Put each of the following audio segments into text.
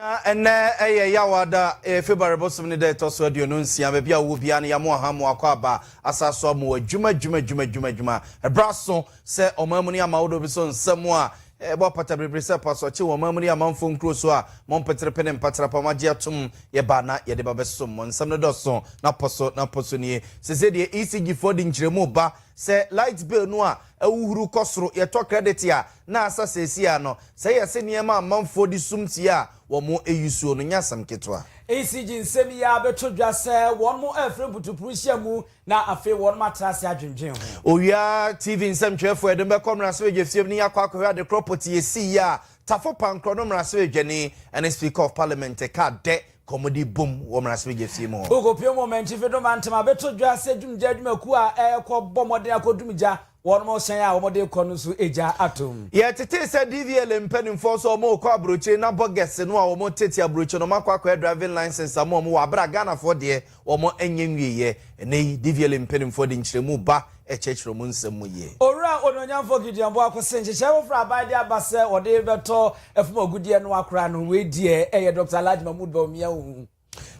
Na ɛnnɛ yɛ Yawa da, ɛyɛ February bosom ne da a ɛtɔ so aduonu nsia, baabi a wowɔ biara no yɛamoa ɔha mu akɔ aba, asan so amoa adwuma adwuma adwuma adwuma adwuma, ɛberɛ aso sɛ ɔman mu ne ama ahodoɔ bi so nsɛm a ɛbɔ apata biribiri sɛ pasoɔkye wɔ ɔman mu ne amanfoɔ nkuro so a mo mpeterepe ne mpaterepa a moagye atom yɛba na yɛde ba bɛsom mo, nsɛm no dɔso na pɔ so na pɔ so nie, seesei deɛ ECG foɔ de nkyerɛmu reba sɛ light bill no a ahuhuru kɔ soro. Yɛtɔ credit a, na asa seesei ara no. Sɛ yɛ se nneɛma a amanfoɔ de sum tia a wɔn ayi suo no, nyɛ asɛm ketewa. ECG nsɛm yi ara bɛtɔ dwa sɛ wɔn afiri mputupuru nhyia mu na afei wɔn atra ase adwendwen ho. Owia TV nsɛmtwerɛfoɔ, yɛde mo bɛkɔ mmarahyɛbadwafie mu na yɛakɔ akɔhwɛ ade korɔ pɔtee a ɛsiiɛ a Tafo Pankorɔ no mmarahyɛbadwani ne Speaker of Parliament kaa dɛ kɔmmude bom wɔ mmarahyɛbadwa fie mu hɔ. Bokopue mu ɔmankyifo Doma Ntema beto dwa sɛ dwumgya adwumakuw a ɛrekɔ bɔ mmɔden akɔ dwumgya wɔnom hyɛn a wɔde rekɔ no so egya atom. Yɛtetee sɛ DVLA mpanyimfoɔ nso wɔn rekɔ abrokyire na bɔgɛse no a wɔn tete abrokyire no wɔn akɔ akɔyɛ driving license ama wɔn wɔ abere a Ghanafoɔ deɛ wɔanyɛ nwieɛ. Ɛnnɛ yi, Divieli mpanimfoɔ de nkyerɛmu ba kyerɛkyerɛ wɔn nsɛm mu yie. Owura Onuonyamfoɔ Gideon Boako se nhyehyɛe foforɔ a aban de aba sɛ wɔde rebɛtɔ fam agudeɛ no akora no, wei deɛ ɛyɛ Dɔkta Alhaji Mahmood Bawumia hu.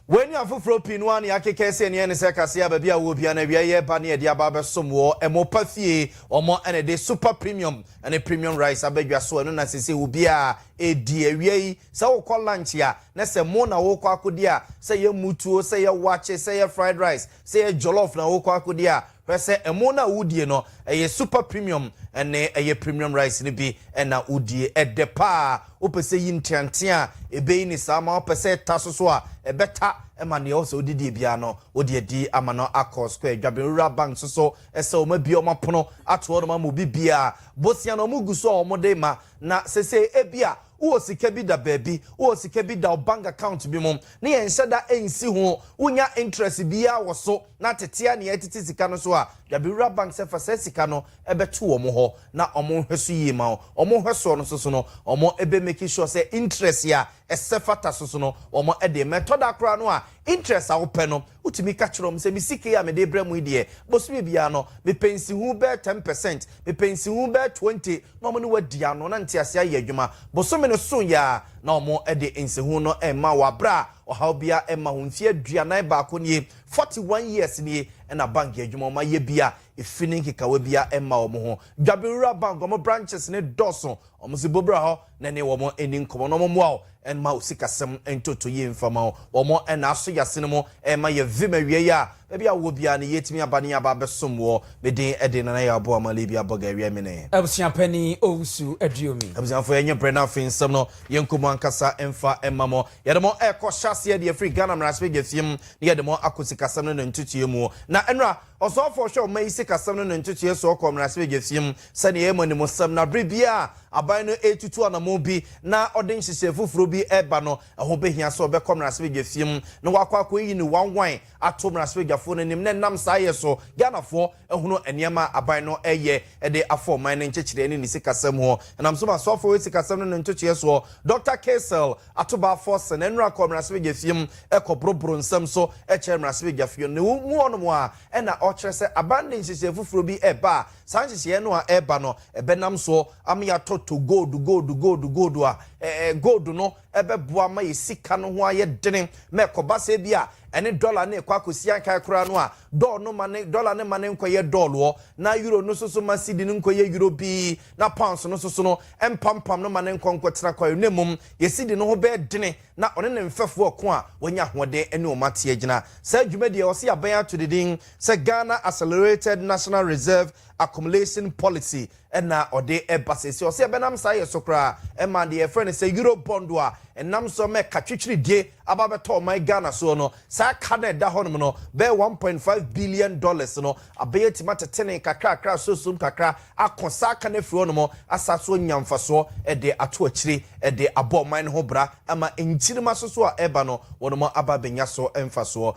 Wei ne afoforɔ pii no ara na yɛakeka asi ani ɛne sɛ kaseɛ a baabi a wɔwɔ biara no awia yi reba ne yɛde aba abɛsom wɔ ɛmo pa fie. Wɔn na ɛde Super Premium ne Premium Rice aba dwa so, ɛno na seesei obiara redi awia yi. Sɛ wokɔ lunch a, na sɛ mo na wokɔ akodi a, sɛ ɛyɛ mutuo, sɛ ɛyɛ wakye, sɛ ɛyɛ fried rice, sɛ ɛyɛ jollof na wokɔ akodi a, hwɛ sɛ ɛmo no a wodie no, ɛyɛ super premium ne ɛyɛ premium rice no bi na wodie. Ɛdɛ paa. Wopɛ sɛ yi nteantea a, ɛbɛyi no saa ma wo. Pɛ sɛ ɛta so so a, ɛbɛta ma deɛ wopɛ sɛ wode die biara no, wode adi ama no akɔ square. Dwabenwura Bank nso so, ɛsɛ wɔabue wɔn apono ato hɔnom ama obi biara. Bosea no, wɔgu so a wɔde rema, na seesei ebia Wowɔ sika bi da baabi, wowɔ sika bi da wo bank account bi mu na yɛnhyɛ da nsi ho, wonnya interest biara wɔ so na tete ara na yɛretete sika no so a, Dabrowura Bank sɛ fa saa sika no bɛto wɔn hɔ na wɔn nhwɛ so yie ma wo. Wɔn nhwɛ soɔ no soso no, wɔn bɛ make sure sɛ interest a ɛsɛ fata soso no wɔn de rema. Ɛtɔ da koraa no a, Interest a wopɛ no, wotumi ka kyerɛ wɔn sɛ, Me sika yi a mede rebrɛ mo yi deɛ, bosome biara no, mepɛ nsiho bɛyɛ ten percent, mepɛ nsiho bɛyɛ twenty, na wɔne wo adi ano, na nteaseɛ ayɛ adwuma. Bosome no soeɛ ara na wɔde nsiho no rema wo, aberɛ a ɔhaw biara mma ho. Mfeɛ aduanan baako nie, forty one years nie, na bank adwuma, wɔayɛ bi a efi ne nkekawa biara mma wɔn ho. Dwabewura Bank, wɔn branches no dɔɔso, wɔn nso bɔ bra hɔ. na ne wɔn nni nkɔmmɔ na wɔmmoa wo mma wo sikasɛm ntoto yie mfa mma wo. Wɔn na aso yɛ asene mu rema yɛ vim awieeɛ a, baabi a wowɔ biara no, yɛtumi aba na yɛaba abɛsom woɔ. Me din de Nana Yaw Boa Ma Libya Boga Awia Mene. Abusua panin Owusu Aduomi. Abusuafoɔ yɛnyɛ brɛ na afei nsɛm no yɛnkɔ mu ankasa mfa mma mo. Yɛde mo rekɔ hyɛ aseɛ deɛ ɛfiri Ghana Mmarahyɛbadwa fie mu na yɛde mo akɔ sikasɛm no ne ntotoeɛ mu. Na nnora Ɔsɔfo a ɔhwɛ ɔman yi sikasɛm no ne ntotoeɛ soɔ kɔɔ mmarahyɛbadwafie mu sɛdeɛ ɛyɛ mmɔnemmɔsɛm na berɛ biara a aban no retutu anammɔn bi na ɔde nhyehyɛe foforɔ bi reba no, ɛho bɛhia sɛ ɔbɛkɔ mmarahyɛbadwafie mu na wakɔ akɔyi no wanwan ato mmarahyɛbadwafoɔ no anim na ɛnam saa yɛ so Ghanafoɔ ahunu nneɛma a aban no reyɛ de afa ɔman no nkyekyerɛ ne ne sikasɛm ho. Ɛnam so ma Ɔsɔfo a ɔhwɛ sikasɛm no ne ntotoeɛ soɔ, Dɔkta Kaysel ato baa fɔse na nnora kɔɔ mmarahyɛbadwafie mu kɔboroboro nsɛm so kyerɛɛ mmarahyɛbadwafie no. Na mu hɔnom ara na ɔkyerɛ sɛ aban no de nhyehyɛe foforɔ bi reba a saa nhyehyɛeɛ no a ɛreba no bɛnam so ama yɛatɔtɔ gold, gold, gold, gold a gold no bɛboa ma yɛn sika no ho ayɛ dene ma ɛkɔba sɛ bi a ɛne dɔla no rekɔ akɔsi ankae koraa no a dɔl no ma ne dɔla no ma ne nkɔyɛ dɔloɔ na euro no nso so ma sidi no nkɔyɛ euro bi na Pounds no nso so no, ɛmpampam no ma no nkɔ nkɔtena kwae, na mmom Yeside no ho bɛyɛ dene, na ɔne ne mfɛfo ɔko a wanya ahoɔden ne wɔn ate agyina. Saa dwumadi a ɛwɔ sɛ yɛaben ato ne din sɛ Ghana Accelerated National Reserve Accumulation Policy na ɔde ba seesei. Ɔsɛ yɛbɛnam saa yɛ so koraa ma deɛ yɛfrɛ no sɛ Eurobond a ɛnam so ma ɛka twitwiridie aba abɛtɔ ɔman Ghana soɔ no, saa ka no a ɛda hɔnom no bɛyɛ one point five billion dollars no, abɛyɛ atumi atetene kakrakra asoɔsom kakra ako saa ka no afiri hɔnom asan so anya mfasoɔ de ato akyire de abɔ ɔman no ho bra ama nkyirimma soso a ɛreba no wɔnom aba abɛnya so mfasoɔ.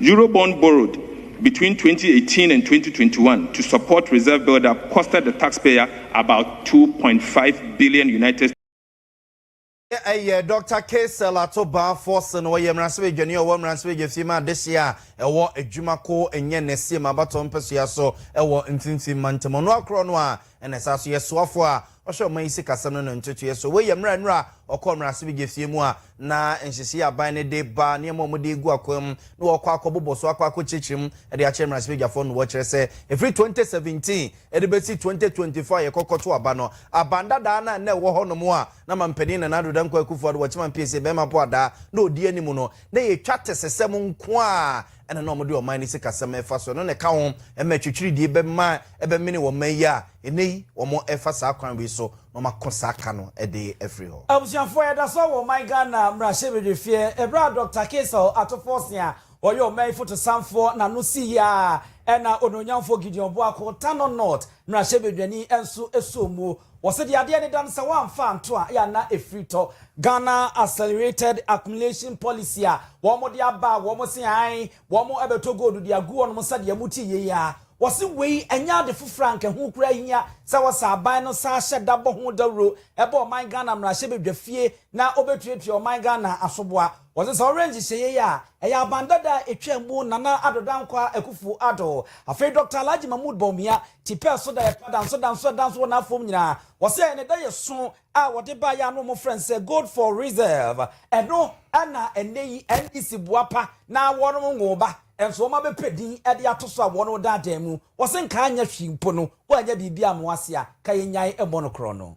Eurobond borrowed between twenty eighteen and twenty twenty one to support reserve buildup costed the taxpayer about two point five billion United Ɛyɛ Dɔkta Kaysel Ato Baafoɔ se no, ɔyɛ mmaransɛbadwani a ɔwɔ mmaransɛbadwafie ma adehyeɛ a ɛwɔ adwuma ko nyɛ ne Seam Abatoɔ mpasua so wɔ Mfimfini Mantam. Ɔnoa korɔ no a, Ɛna ɛsan nso yɛ soafoɔ a ɔhwɛ ɔman yi sikasɛm no no ntotoeɛ so. Wei yɛ mmerɛ a nnora ɔkɔɔ mmarahyɛbedwafie mu a na nhyehyeɛ aban no de ba nneɛma a wɔde regu akwaa mu na wɔkɔ akɔ bobɔ so akɔ akɔ kyerɛkyerɛ mu de akyerɛ mmarahyɛbedwafoɔ no wɔkyerɛ sɛ ɛfiri 2017 de bɛsi 2024 a yɛkɔ kɔto aba no aban dadaa no a na ɛwɔ hɔ nom a na mampanin Nana Addo Dankwa Akufo-Addo wɔkyema mpie sɛ bɛrima po adaa na ɔdi anim no na yɛtwa tesesɛm nko a ɛna na wɔde ɔman no sikasɛm refa so, ɛno na ɛka ho ma atwitwiridie bɛma ɛbɛmene wɔ mma yi a ɛnnɛ yi wɔrefa saa kwan wei so na wɔako saa ka no de afiri hɔ. Abusuafoɔ yɛda so wɔ ɔman Ghana mmarahyɛbedwafie ɛberɛ a Dɔkta Kaysel Atofforsen a ɔyɛ ɔman yi fotosanfoɔ na ano si yie ara ɛna Onuonyamfoɔ Gideon Boako, Tano North, Mmarahyɛbadwani nso sɔɔ mu. Wɔse deɛ adeɛ no da no sɛ wɔamfa anto a, ɛyɛ a na ɛfiri tɔ. Ghana Accelerated Accumulation Policy a wɔde aba a wɔn se ae wɔbɛtɔ gold de agu hɔ nom sɛdeɛ mo te yei yi ara. Wɔse wei ɛnyɛ ade foforɔ a anka ɛho koraa hia sɛ wɔsɛ aban no saa hyɛ da bɔ ho dawuro bɔ ɔman Ghana mmarahyɛbadwafie na wɔbɛtuatua ɔman Ghana asoboa. Wɔdze sɛ ɔwerɛ nhyehyɛɛ yi a ɛyɛ aban dada a etwa mu Nana Addo Dankwah Akuffo Addo, afei Dɔkta Alhaji Mahmood Bawumia, ti pɛɛ so da yɛ pa danso danso a danso wɔ n'afɔm nyina. Wɔsɛ ne da yɛ so a wɔdze baayɛ a ano wɔfrɛ no sɛ Gold for Reserve. Ɛno na ɛnnɛ yi NDC boa pa na wɔnom nwoo ba nso wɔma bɛpɛ din de ato so a wɔnom da adan mu. Wɔse nka anyɛ hwee mpo no wɔanyɛ biribi amoa ase a ka yɛnyae mmɔ no korɔno.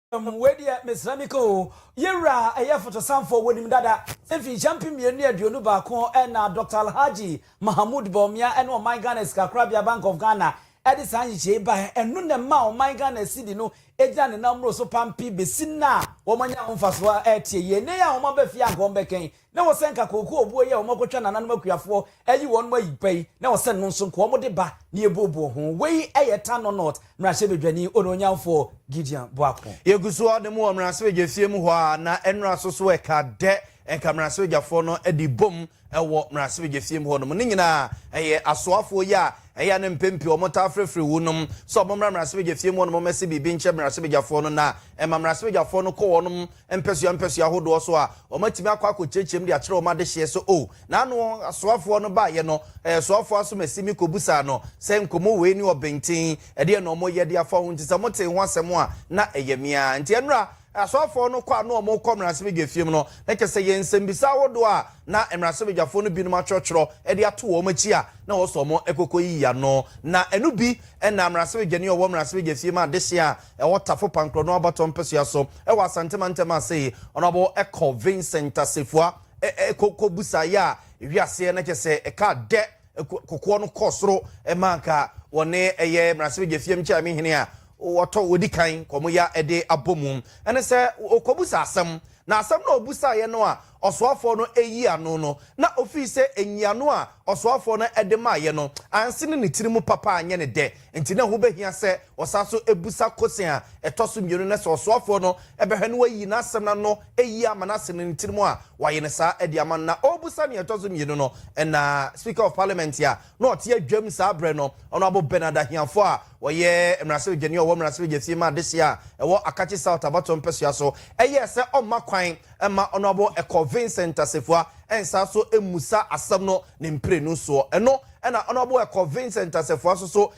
Wei deɛ mesrɛ me ka oo. Yewura a ɛyɛ Fotosanfoɔ wɔnim dada mfinhyia mpem mmienu ne aduonu baako na Doctor Alhaji Mahamood Bawumia ne ɔman Ghana sikakorabea Bank of Ghana de saa nhyehyɛe yi baeɛ. Ɛno na ɛmaa ɔman Ghana cedi no gyina ne nan mmoro so pampe besi nnɛ a wɔanya ho mfasoɔ ɛreteɛ yie. Nnɛ yi a wɔaba fie a anka wɔbɛka yi, na wɔsɛ nka kooko obuo yi a wɔakɔtwa nananom akuafoɔ ayi wɔnom ayi pa yi, na wɔsɛ no nso nka wɔde ba na yɛbuobuo ho. Wei yɛ Tanno North mmarahyɛbadwani onuonyamfoɔ Gideon Boako. Yɛgu so ara da mu wɔ mmarahyɛbadwa fie mu hɔ ara, na nnora so so ɛka dɛ nka mmarahyɛbadwafoɔ no de bom wɔ mmarahyɛbadwa fie mu hɔnom. Ne nyinaa ɛyɛ asoafoɔ yi a Ɛyɛ a no mpɛn pii wɔtaa frɛfrɛ wɔnom sɛ wɔmmra mmarahyɛbadwafie mu hɔ nom mmɛse biribi nkyerɛ mmarahyɛbadwafoɔ no na ɛma mmarahyɛbadwafoɔ no kɔ wɔnom mpɛsoa mpɛsoa ahodoɔ so a wɔatumi akɔ akɔkyerɛkyerɛ mu de akyerɛ wɔn adehyeɛ so o na ano asoafoɔ no baeɛ no ɛɛ soafoɔ asomasi me kɔbusaa no sɛ nkɔmmɔ wei ne ɔbenten ɛdeɛ na wɔyɛ de afa ho nti sɛ motee ho asɛm a na ɛyɛ mea nti ɛnora Asɔfoɔ no kɔ a na wɔrekɔ mmaransɛbadwafie mu no, na kyerɛ sɛ yɛn nsɛmmisa ahodoɔ a na mmaransɛbadwafoɔ no binom atwerɛtwerɛ de ato wɔn akyi a na wɔsɔ wɔn kɔkɔyiyi ano. Na ɛno bi na mmaransɛbadwani a ɔwɔ mmaransɛbadwafie ma adehyeɛ a ɛwɔ Tafo Pankorɔ no abatoɔ mpɛsoa so wɔ Asante mantam ase yi, Honourable Ecco Vincent Assefuah, kɔbusaeɛ a ɛhwe aseɛ na kyerɛ sɛ ɛkaa dɛ. kokoɔ no kɔ soro ma anka wɔne ɛyɛ mmaransɛbadwa fie mkyɛ me hene a wɔtɔ wɔdi kan kɔm ya ɛde abɔ mu ɛne sɛ ɔkɔbusa asɛm na asɛm no a ɔbusaeɛ no a ɔsoafoɔ no ɛyi ano no na ɔfiri sɛ nyiano a ɔsoafoɔ no ɛde maayɛ no anse ne ne tiri mu papa anyɛ ne dɛ nti na ɛho bɛhia sɛ Wɔsan nso bisa kosen a ɛtɔ so mmienu no sɛ ɔsoafoɔ no bɛhwɛ na wayi n'asɛm no ano yie ama no asene ne tirim a, wayɛ no saa de ama no. Na ɔrebisa nea ɛtɔ so mmienu no na Speaker of Parliament a na ɔte adwam saa berɛ no, Honourable Bernard Ahiafoɔ a ɔyɛ mmarahyɛbadwani a ɔwɔ mmarahyɛbadwafie ma adehyeɛ a ɛwɔ Akatsi South abatoɔ mpɛsoa so yɛɛ sɛ ɔmma kwan mma Honourable Ecor Vincent Asafua nsan nso mmisa asɛm no ne mprenu soɔ. Ɛno na Honourable Ecor Vincent Asafua nso so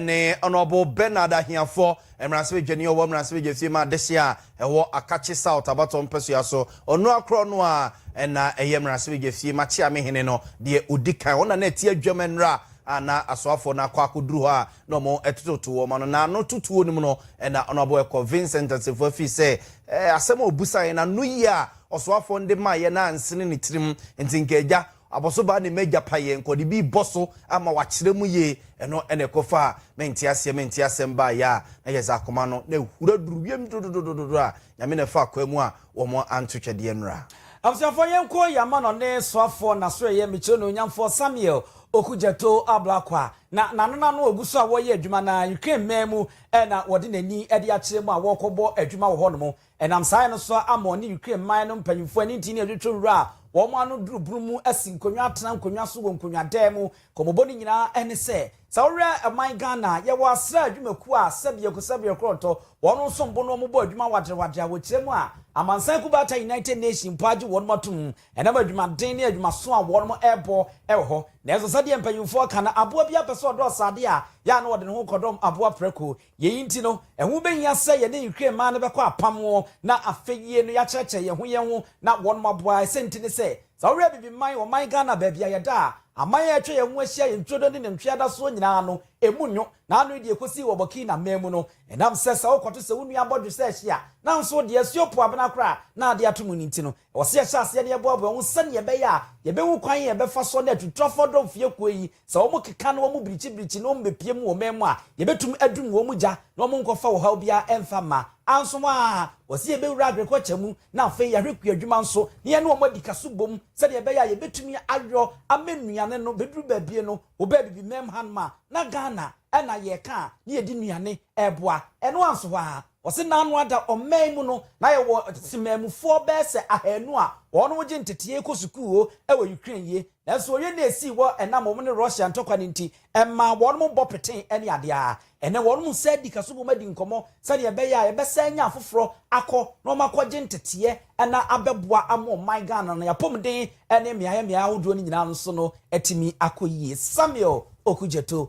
ne Honourable Bernard Ahiafoɔ, mmaransebadwani a ɔwɔ mmaransebadwafie mu adehyeɛ a ɛwɔ Akakye South abatoɔ mpasua so. Ɔnoa korɔ no ara na ɛyɛ mmaransebadwafie mu akyeamehene no deɛ ɔdi kan. Ɔno na na ɛte adwam nnora a na asoafoɔ no akɔ akɔduru hɔ a na wɔtototo wɔn ano. Na ano totoɔ no mu no na Honourable Ɛkɔ Vincent Assefuah fii sɛ asɛm a ɔbusaeɛ no ano yie a ɔsoafoɔ no de maeɛ no ansene ne tirim nti nka agya Abɔso baa ne m'agya payɛ nkɔdibii bɔ so ama wakyerɛ mu yie, ɛno na ɛkɔfaa me nteaseɛ me nteasɛm baeɛ a na yɛdze akoma no na ahura duru wiem dodododododo a Nyame na ɛfaa kwaa mu a wɔn anto twɛdeɛ nnura. Abusuafoɔ yɛnkɔ yɛn amano ne soafoɔ Nasereyɛ Mekyire no Onyamfoɔ Samuel Okudzeto Ablakwa na nanena no ɔgu so a wɔreyɛ adwuma na Ukraine man mu na wɔde n'ani de akyerɛ mu a wɔrekɔbɔ adwuma wɔ hɔnom Ɛnam saa yɛ no so ara ama ɔne Ukraine man no mpanyimfo ani ntii ne adwotwo nwura a wɔn ano duru boro mu asi nkonnwa atena nkonnwa so wɔ nkonnwadan mu. Nkɔmmɔbɔ no nyinaa ne sɛ, sɛ wohwɛ ɔman Ghana a, yɛwɔ asra adwumakuo a sɛ biako sɛ biako ɔtɔ wɔn nsom bo na wɔbɔ adwuma wadrewadre a wɔkyerɛ mu a amansan kubaata United Nations mpo agye wɔn atom ɛnam adwumaden ne adwumaso a wɔn rebɔ wɔ hɔ. Nanso sɛdeɛ mpanyimfoɔ ka no, aboa biara pɛ sɛ ɔdɔɔso adeɛ a, yɛ a na wɔde ne ho kɔdɔm aboa prɛko. Yei nti no, ɛho bɛhia sɛ yɛne nhwiren mmaa no bɛkɔ apam na afei yie no yɛakyerɛkyerɛ yɛn ho yɛn ho na wɔnom aboa. Ɛsɛ nti ne sɛ, sɛ wohwɛ Abibiman, ɔman Ghana, baabi a yɛda a, aman a atwa yɛn ho ahyia yɛ Ntwodo ne Nantwie Adasoɔ nyinaa no, ɛmu nnwo, na ano yi deɛ ɛkɔsii wɔ Burkina mmaa mu no. Ɛnam sɛ sɛ wokɔto sɛ wo nua abɔdwe sɛ ɛhye a, nanso wo deɛ, ɛso yɛ opoabena koraa, na adeɛ ato mu no nti no, Ɛwɔ sɛ yɛhyɛ aseɛ na yɛboaboa ho sɛdeɛ ɛbɛyɛ a yɛbɛhu kwan a yɛbɛfa so ne atuturafoɔ dɔm fie kuo yi, sɛ wɔn keka na wɔn birikyi birikyi na wɔn bɛpue mu wɔ man mu a, yɛbɛtumi adum wɔn gya na wɔn nkɔfa ɔhaw biara ɛmfa mma. Anso a, ɛwɔ sɛ yɛbɛwura agriculture mu na afei yɛahwɛ kua adwuma nso na yɛne wɔn adi ka so bom sɛdeɛ ɛbɛyɛ a yɛbɛtumi ayɔ ama nnuane no bɛduru baabie no, wobɛɛ bibi mɛm han ma na Ghana na yɛka a na yɛdi nnuane ɛboa. Ɛno anso hɔ ara, ɔse n'ano ada ɔman mu no na yɛwɔ temanmufoɔ bɛyɛ sɛ ahaanu a wɔnom gye ntetee kɔ sukuu o wɔ Ukraine yie nanso oye no a esii hɔ ɛnam wɔnom ne Russia ntɔkwa no nti ɛmaa wɔnom bɔ petee ɛne adeɛ a ɛnɛ wɔnom nsa di kaso bom adi nkɔmɔ sɛdeɛ ɛbɛyɛ a yɛbɛsan anya afoforɔ akɔ na wɔn akɔ gye nteteɛ na abɛboa ama ɔman Ghana no apɔmuden ne mmeaɛ mmeaɛ ahodoɔ no nyinaa nso no atumi akɔ yie Samuel Okudzeto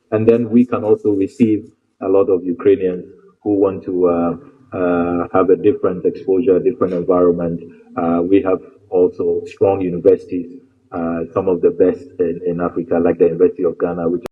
And then we can also receive a lot of Ukrainians who want to uh, uh, have a different exposure, a different environment. Uh, we have also strong universities, uh, some of the best in, in, Africa, like the University of Ghana, which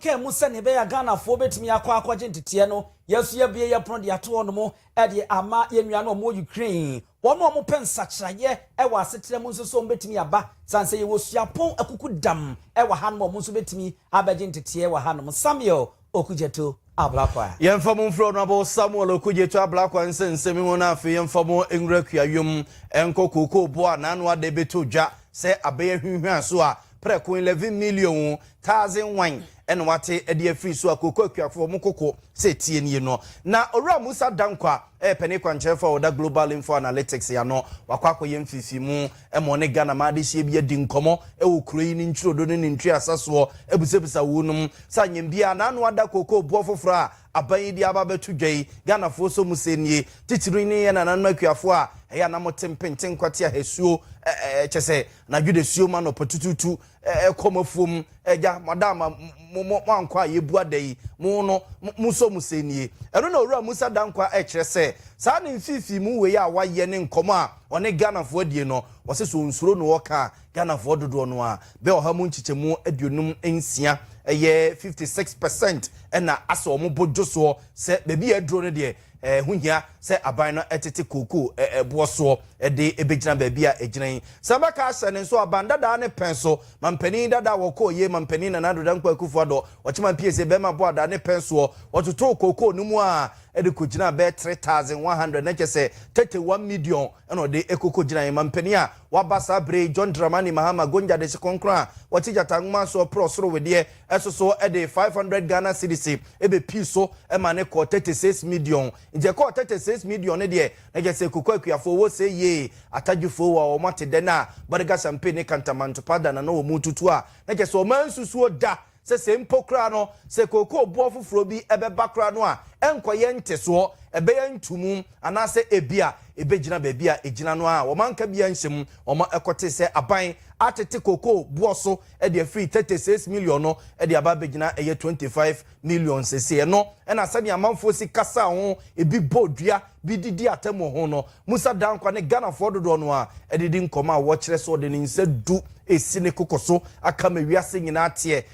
kaa mu sɛ ne bɛyɛ ghanafoɔ bɛtumi akɔ akɔgye nteteɛ no yɛso yɛbie yɛ pono de ato hɔ nom de ama yɛn nua no ɔmo ukraine Wɔn a wɔpɛ nsakyeraeɛ wɔ asetra mu nso so, wɔbɛtumi aba. Sane sɛ yɛwɔ suapɔn akukudam wɔ hanom a, wɔn nso bɛtumi abɛgye nteteɛ wɔ hanom. Samuel Okudzeto Ablakwa. Yɛmfa mo mfiri Honourable Samuel Okudzeto Ablakwa nsɛnsɛm mu na afei yɛmfa mo nwura kuayom nkɔ kookoo boɔ a n'ano ada ɛbɛtɔ dwa sɛ abɛn ahwinhwan so a prɛko eleven million thousand wan na wɔate de afiri so a kookoo akuafoɔ mo koko sɛ tie nie no. Na Owura Musa Dankwah Ɛyɛ panin kwankyerɛfo a ɔda Global Info Analytics ano. Wakɔ akɔyɛ mfeefeemu ma ɔne Ghana man adehyeɛ bi adi nkɔmmɔ wɔ kuro yi ne ntwirodo ne ne ntwiasa soɔ abisabisa wo nom sɛ anyɛm biara na ano ada kookoo boɔ foforɔ a aban yi de aba abɛto dwa yi. Ghanafoɔ nso mo sɛ nie. Titiri ne yɛn nananom akuafoɔ a ɛyɛ a na mote mpenten kwate ahasuo, kyɛ sɛ anadwo dasuo mu anɔpa tutuutu. Ɛkɔm afuom agya madam a mo mo ankɔ a yɛbua da yi mo no mo nso mo sɛ nie ɛno na owura Musa Dankwa ɛkyerɛ sɛ saa ne mfifii mu wei a wayɛ ne nkɔmɔ a ɔne Ghanafoɔ adie no ɔse sɛ ɔnsuro no ɔka a Ghanafoɔ dodoɔ no a bɛ ɔha mu nkyekyɛmu aduonum nsia ɛyɛ fifty six percent ɛna asɛ ɔmo bo dwosoɔ sɛ baabi a aduro no deɛ Ɛho hia sɛ aban no tete kookoo boɔ soɔ de bɛgyina baabi a ɛgyina yi. Sɛ bɛka ahyɛ no nso aban dadaa ne pɛn so. Mampanin dadaa wɔkɔɔyie Mampanin Nana Addo Dankwa Akuffo Addo, Ɔkyeman PSA bɛɛma boadaa ne pɛn soɔ. Wɔtotoo kookoo no mu ara de kɔgyinaa bɛyɛ 3100 na kyɛ sɛ tete one midiɔn na ɔde kɔkɔgyinaeɛ. Mampanin a waba saa berɛ yi John Dramani Mahama Gonja Dese Kronkron a ɔte Gyata Nwoma soɔ porɔ soro wedeɛ so so de five hundred Ghana cedis bepii so ma ne kɔɔ thirty six midiɔn. Nti ɛkɔɔ thirty six midiɔn no deɛ, na kyerɛ sɛ Koko Akuafoɔ wɔ se yee Atadwifoɔ wɔ wɔn atedɛ no a Bɔdega Champagne ne Kantamanto Powder na na wɔn retutu a, na kyerɛ sɛ wɔansusuo da sɛ sei mpo koraa no sɛ kookoo boɔ foforɔ bi bɛba koraa no a, ɛnkɔyɛ ntesoɔ, ɛbɛyɛ ntumu. Anaasɛ ebia ebegyina baabi a egyina no ara a wɔanka biara anhyɛ mu. Wɔkɔtee sɛ aban atete kokoo boɔ so de afiri 36 million no de aba abegyina ɛyɛ 25 million seesei. Ɛno na sɛnea amanfoɔ si kasa ho, ebi bɔ dua, bi de di atam wɔ ho no. Musa Dankwah ne Ghanafoɔ dodoɔ no ara de di nkɔmmɔ a wɔkyerɛ sɛ ɔde ne nsa du resi ne koko so aka ama wiase nyinaa ateɛ.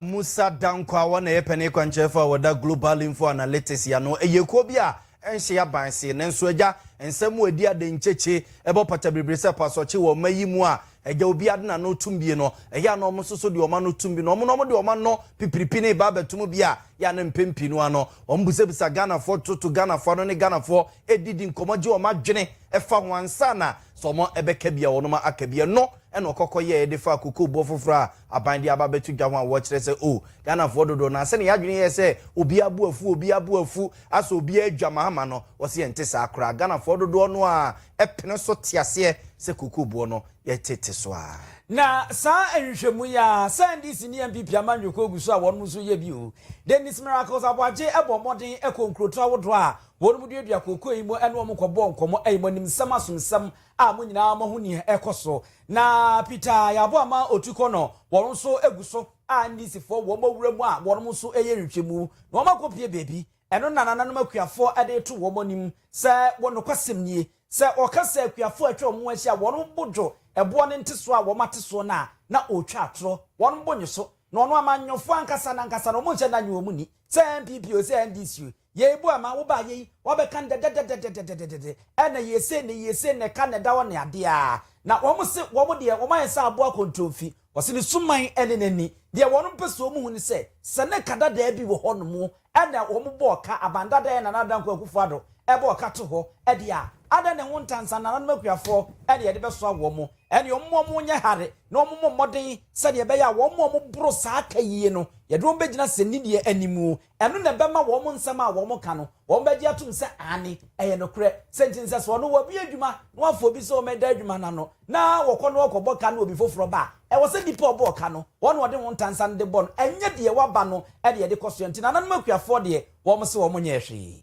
Musa Dankwah na ɛyɛ panin kwankyerɛfo a ɔda Global Info Analytics ano. Ɛyɛ kuo bi a ɛnhye aban see. Nanso agya, nsɛm mu adi adenkyekyee ɛbɔ pata biribiri sɛ pasɔkye wɔ ɔma yi mu a agya obi ade na no tum bie no. Ɛyɛ a na ɔmo nso so de ɔma no tum bi na ɔmo na ɔmo de ɔma no pipiripi ne ba abɛtom bi a yɛ a na mpɛn pii no ano ɔmo bisabisa Ghanafoɔ toto Ghanafoɔ ano ne Ghanafoɔ edi di nkɔmɔ gye ɔmo adwene ɛfa ho ansa na sɛ ɔmo ɛbɛka bi a ɔnom aka bi. Ɛno ɛna ɔkɔkɔ yɛɛ de faa kokoboɔ foforɔ a aban de aba abɛto dwa ho a wɔkyerɛ sɛ oh, Ghanafoɔ dodoɔ no ara sɛdeɛ yɛn adwene yɛ sɛ obiara bo afu, obiara bo afu, asɛ obiara adwa mahama no, wɔse ɛnte saa koraa. Ghanafoɔ dodoɔ no ara pene so te aseɛ sɛ kookooboɔ no yɛtete so ara. Na saa nhwehwɛmu yi ara sɛ NDC ne NPP ama nnwoko gu so a wɔnom nso yɛ bi o. Dennis Miracles Aboagye bɔɔ mmɔden kɔɔ nkurotoɔ ahodoɔ a wɔnom duadua kookoo yi mu ne wɔn kɔbɔɔ nkɔmmɔ, ayimɔnimsɛm, asomsɛm a mo nyinaa moahu nea ɛrekɔ so, na Peter yɛ aboa ma otu kɔ no, wɔnom nso gu so a Ndisifoɔ wɔ mo wuram a wɔnom nso reyɛ nhwehwɛmu na wɔn akɔpue baabi, ɛno na nananom akuafoɔ de reto wɔn anim sɛ wɔ nokwasɛm nie, sɛ wɔka sɛ akuafoɔ a atwa wɔn ho ahyia a wɔnom bo dwo ɛboɔ no ntesoɔ a wɔn ate soɔ no a na ɔretwa atorɔ, wɔnom bo nnye so, na ɔno amanyɔfoɔ ankasa no ankasa no wɔn nhyɛ da nnye wɔn nni, sɛ NPP oo, sɛ NDC oo. Yei boa ma wobaa yei wɔbɛka no dɛdɛdɛdɛdɛdɛdɛdɛdɛdɛ ɛna yie sei na yie sei na ɛka na ɛda hɔ ne adeɛ a na wɔn se wɔn deɛ wɔn ayɛ sɛ aboa kɔntronfi wɔse ne suman ne n'ani deɛ wɔn pɛ sɛ wɔn hu ne sɛ sɛ ne ka dadaa bi wɔ hɔ nom ɛna wɔn bɔɔ ka aban dadaa ɛna Nana Dankwa Akufo Addo ɛbɔɔ ka to hɔ ɛdeɛ a adɛn na ɛho nta nsa nananom akuafoɔ ɛna yɛde bɛsoa wɔn ɛne wɔn ma wɔn nyɛ hare na wɔn mmɔ mmɔden sɛdeɛ ɛbɛyɛ a wɔn a wɔn boro saa ka yie no yɛde wɔn bɛgyina sɛ nni deɛ animuo Ɛno na ɛbɛma wɔn nsɛm a wɔka no, wɔbɛgye atom sɛ aane, ɛyɛ nokorɛ. Sɛ nti nsɛ soɔ no, wɔbue adwuma na wɔafa obi sɛ ɔmmɛda adwuma no ano, na wɔkɔ na wɔkɔbɔ ka na obi foforɔ ba a, ɛwɔ sɛ nipa a ɔbɔɔ ka no, wɔn na wɔde ho ntansa no de bɔ no, ɛnyɛ deɛ waba no de ɛde kɔ soɛ. Nti nananom akuafoɔ deɛ, wɔn se wɔn nyɛɛ hwee.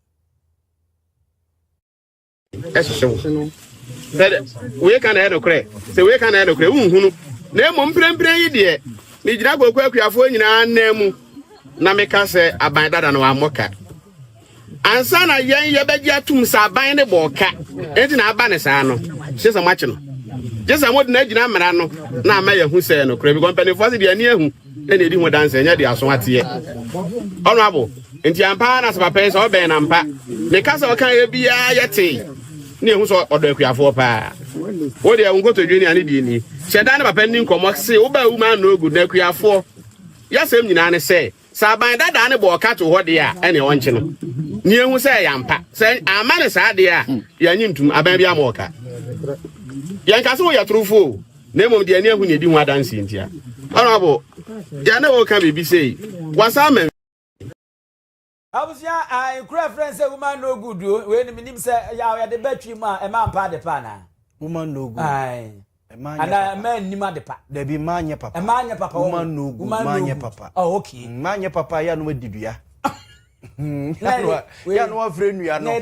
ɛhyehye wo sɛ wei ka na ɛyɛ nokorɛ sɛ wei ka na ɛyɛ nokorɛ wonhunu na mmom mprempren yi deɛ megyina koko akuafoɔ nyinaa nan mu na meka sɛ aban dada no wammɔ ka ansa na yɛn yɛbɛgye atom sɛ aban ne bɔɔ ka enti na aba ne saa no gye sɛ moakye no gye sɛ mode no agyina mmara no na ama yɛahu sɛ nokorɛ bi kɔ mpanimfoɔ se deɛ ani ahu ɛna edi ho danse ɛnyɛ de aso ateɛ honorable nti ampa na sɛ papa yi sɛ ɔbɛn na mpa ne ka sɛ ɔka yɛ biara yɛ te ne ehu sɛ ɔdɔ akuafoɔ paa wo deɛ nkotodwe ne ane deɛ ni hyɛ da ne papa ni nkɔmɔ se wobaa wu ma no good na akuafoɔ yɛsɛm nyinaa ne sɛ sɛ aban dadaa ne bɔ ɔka to hɔ deɛ a ɛne ɔnkye no ne ehu sɛ ɛyɛ ampa sɛ ama ne saa deɛ a yɛnye ntum aban bi ama ɔka yɛnka sɛ woyɛ torofoɔ na mmom deɛ ani ahu na ɛdi ho adanseɛ nti a Honorable deɛ na wɔka biribi sei wasan ma Abusua a nkura ɛfrɛ no sɛ woman no good o wei no menim sɛ yaw yɛde bɛ twi mu a ɛma mpa ade pa anaa woman no good ɛma nyɛ papa ɛma nnim ade pa dabi ɛma nyɛ papa ɛma nyɛ papa woman no good ɛma nyɛ papa oh okay ɛma nyɛ papa yɛ anoma didua yanu afre nua no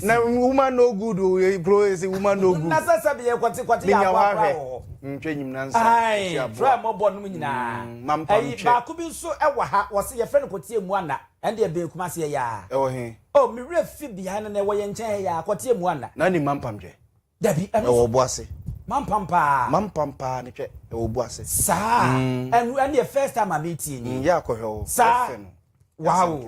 na woman no good o kuro esi woman no good na sasa bi yɛ kɔte kɔte yɛ akɔ akɔ wɔ ntwa enyim na nsa ɛsi aboa tura mɔ bɔ nom nyinaa mm, mampa ntwɛ ɛyi baako bi nso ɛwɔ ha wɔsi yɛfrɛ no kɔte emu ana ɛnde ɛbɛn kuma se ɛyɛ a ɛwɔ he o mi werɛ fi behind na ɛwɔ yɛn nkyɛn ha yɛ a kɔte emu ana na ne mampa ntwɛ Dabi, ɛno nso. Ɛwɔ ɔbo ase. Mampam paa. Mampam paa ne hwɛ, ɛwɔ ɔbo ase. Saa, ɛno ɛne yɛ first time a metie nie. Yɛ akɔhwɛ o. Saa, wow,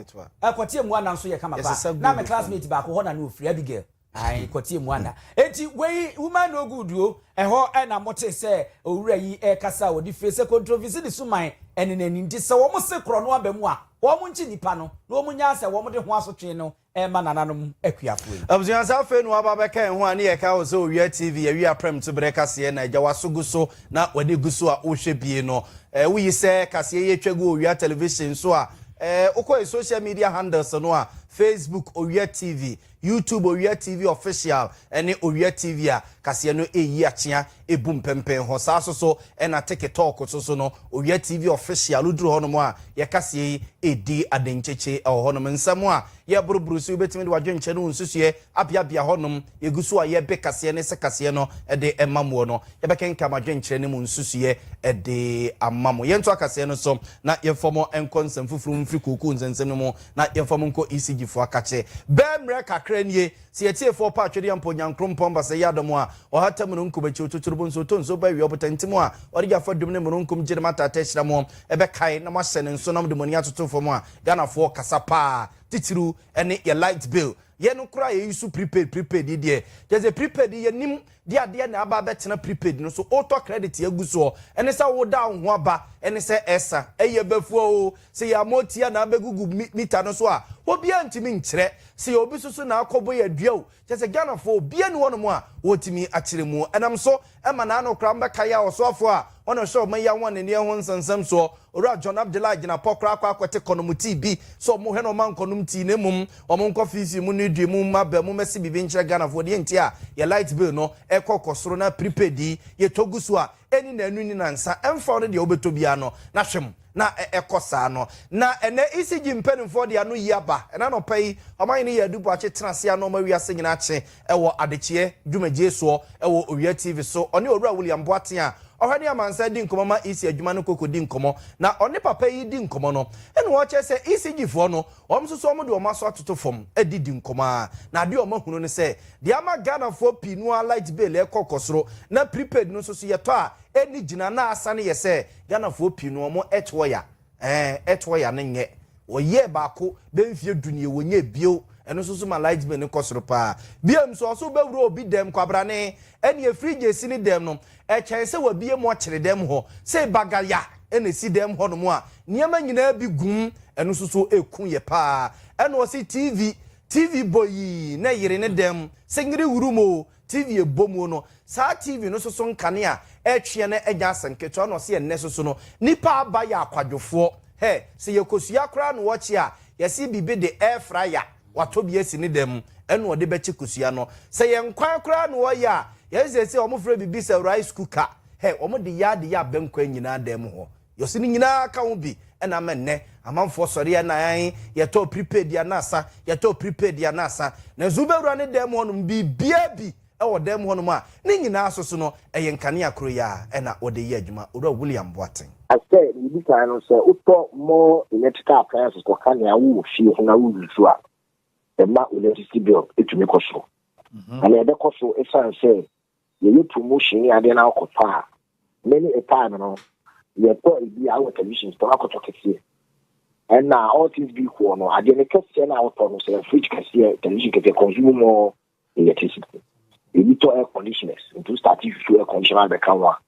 ɛkɔteɛ Muanda nso yɛ kama paa. Na me classmate baako hɔ na na ɔfiri, Abigail. Ae, kɔteɛ Muanda. Enti wei, woman no good o. Ɛhɔ na mote sɛ owura yi ɛrekasa a ɔde fire sɛ kontrovisi ne suman ɛne n'ani. Nti sɛ wɔn se korɔ no aba mu a, wɔn nkye nipa no na wɔn nyaa sɛ wɔn de ho asotwee no Ɛremma nananom akuafoɔ yi. Abusua sɛ afei na waba abɛka yɛn ho a ne yɛ kae wo sɛ owia TV yɛwe aprɛmtu berɛ kaseɛ na agya waso gu so na w'ani gu so a wohwɛ bie no eh wo yi sɛ kaseɛ yi atwa gu owia television so a eh wokɔ yɛ social media handles no a Facebook owia TV YouTube owia TV official ɛne owia TV a kaseɛ no ɛyi akyea Ebu mpɛmpɛnhɔ saa so so na teke tɔɔko so so no Owia TV Official duru hɔ nom a yɛ kaseɛ yi redi adenkyekye wɔ hɔ nom. Nsɛm a yɛ boro boro so yi wobɛtumi de w'adwenkyerɛ ne wo nsusuiɛ abeabea hɔ nom. Yɛ gu so a yɛ be kaseɛ ne se kaseɛ no de ma moɔ no. Yɛ bɛ kenkan m'adwenkyerɛ ne mo nsusuiɛ de ama mo. Yɛ ntoa kaseɛ no so na yɛ mfa mo nkɔ nsɛm foforo mu mfiri kookoo nsɛnsɛm no mu na yɛ mfa mo nkɔ ECG foɔ akakye. Bɛ mmerɛ kakra nie Sɛ Atiefoɔ pa atwedeɛ ampa Onyankrompɔn basɛ yɛ adɔm a, ɔhata mununkum akyi, ɔtuturu bo nso, ɔtɔ nsuo ba awia ɔbotantim hɔ a, ɔde gya fa dum ne mununkum gye ne mo ataataa ahyira mo, ɛbɛkae na moahyɛ ne nso na mode mo ani atoto fam a, Ghanafoɔ kasa paa, titiriw ɛne yɛ light bill. Yɛn no koraa yɛyi so prepaid, prepaid yi deɛ, kyerɛ sɛ prepaid yi yɛnim de adeɛ na aba abɛtena prepaid no so wotɔ credit agu soɔ ɛne sɛ woda wo ho aba ɛne sɛ ɛsa ɛyɛ bɛfua oo sɛ yɛ ama ɔtia na abɛgugu meter no so a obiara ntumi nkyerɛ sɛ yɛ obi soso na akɔbɔ yɛ dua o kyɛ sɛ Ghanafoɔ obiara ni hɔ nom a ɔtumi akyerɛ mu ɛnam so ɛma na ano koraa mbɛka yɛ a ɔsoafoɔ a Ɔno nso ɔma yi awan n'ani ɛho nsɛnsɛm soɔ. Owura John Abdullah gyina pɔ koraa kɔ akɔte kɔnom tea bi sɛ ɔmo hwɛ no ɔmma nkɔnom tea na mmom ɔmo nkɔ fiifii mu nnoe due mu mma bɛ mo mmɛse biribi nkyerɛ Ghanafoɔ deɛ nti a yɛ light bill no ɛkɔ kɔ soro na prepaid yi yɛtɔ gu so a ɛnni naanu nni nansa ɛmfa wo ne deɛ wobɛtɔ biara no na hwɛ mo na ɛkɔ saa no. Na ɛnɛ ECG mpaninfoɔ de ano yi aba. Ɛna nɔpa yi, Ɔmanhene Yaa Adu Boakye tena ase a na ɔma wiase nyinaa kye wɔ adekyeɛ dwumadie soɔ wɔ Owia TV so. Ɔne Owura William Boaten a ɔhwɛ ne amansan di nkɔmmɔ ma EC adwuma no kɔ kɔdi nkɔmmɔ. Na ɔne papa yi redi nkɔmmɔ no, ɛna ɔkyerɛ sɛ ECG foɔ no, wɔn nso so wɔde wɔn aso atoto fam de di nkɔmmɔ ara. Na adeɛ a wɔahunu ne sɛ, deɛ ama Ghanafoɔ pii no ara light bill rekɔ kɔ soro, na prepaid no nso so yɛtɔ a, Ɛni gyina na asane yɛ sɛ Ghanafoɔ pii no wɔn ɛtoɔ ya ɛɛ ɛtoɔ ya no nyɛ wɔyɛɛ baako bɛ mfie du nie wɔnyɛɛ bio ɛno nso so ma light bill no kɔ soro paa biom nso ɔso wobɛwura obi dɛm kwabrane ɛneɛ fridge ɛsi ne dɛm no ɛkyɛn sɛ wabie mu ɔkyere dɛm hɔ sei bagaya ɛna ɛsi dɛm hɔ nom a nneɛma nyinaa bi gum ɛno nso so ɛku yɛ paa ɛna ɔse TV TV bɔ yii na ɛyere ne dɛm sɛ nyere wurum o TV a ɛbɔ mu no, saa TV no soso nkanea a ɛretweɛn na ɛnya asɛm ketewa na ɔse ɛnnɛ soso no, nnipa a aba yɛ akwadwofoɔ. Hɛ! Sɛ yɛkosua koraa na wɔkye a, yɛse biribi de air fryer, watɔ bi asi ne dan mu, ɛna ɔde bɛkye kosua no. Sɛ yɛn kwan koraa na wɔyɛ a, yɛse seesei wɔfrɛ biribi sɛ rice cooker, hɛ! Wɔde yɛ adeyɛ a bɛnkɔ nyinaa dan mu hɔ. Yose no nyinaa ka ho bi na ama nnɛ amanfoɔ sɔre yɛ na ae yɛtɔɔ prepaid yɛ na asa yɛtɔɔ prepaid yɛ na asa nanso wobɛwura ne dan mu hɔ nom biribiara bi wɔ dan mu hɔ nom a ne nyinaa so so no ɛyɛ nkanea koro yi ara na wɔde yɛ adwuma Owura William Boateng. Sɛ nea edi kan no sɛ wotɔ more electrical appliances kɔ ka nea wowɔ fie ho na wo use a ɛma wo electricity bill tumi kɔ soro mm-hmm. na ɛbɛkɔ so ɛsiane sɛ Yɛyɛ promotion ne adeɛ na wokɔ tɔ a, many a time no, yɛtɔ ebi a wɔ television store akɔ tɔ kɛseɛ. Ɛna all things be equal no, adeɛ no kɛseɛ na wotɔ no sɛ fridge kɛseɛ, television kɛseɛ consume more electricity. Ebi tɔ air conditioners, nti wo start susu air conditioner abɛka ho a,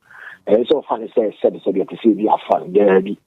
ɛnsɛ sɛ ɔfa no sɛ sɛbesɛbe ɛte sɛ ebi a fan, daabi.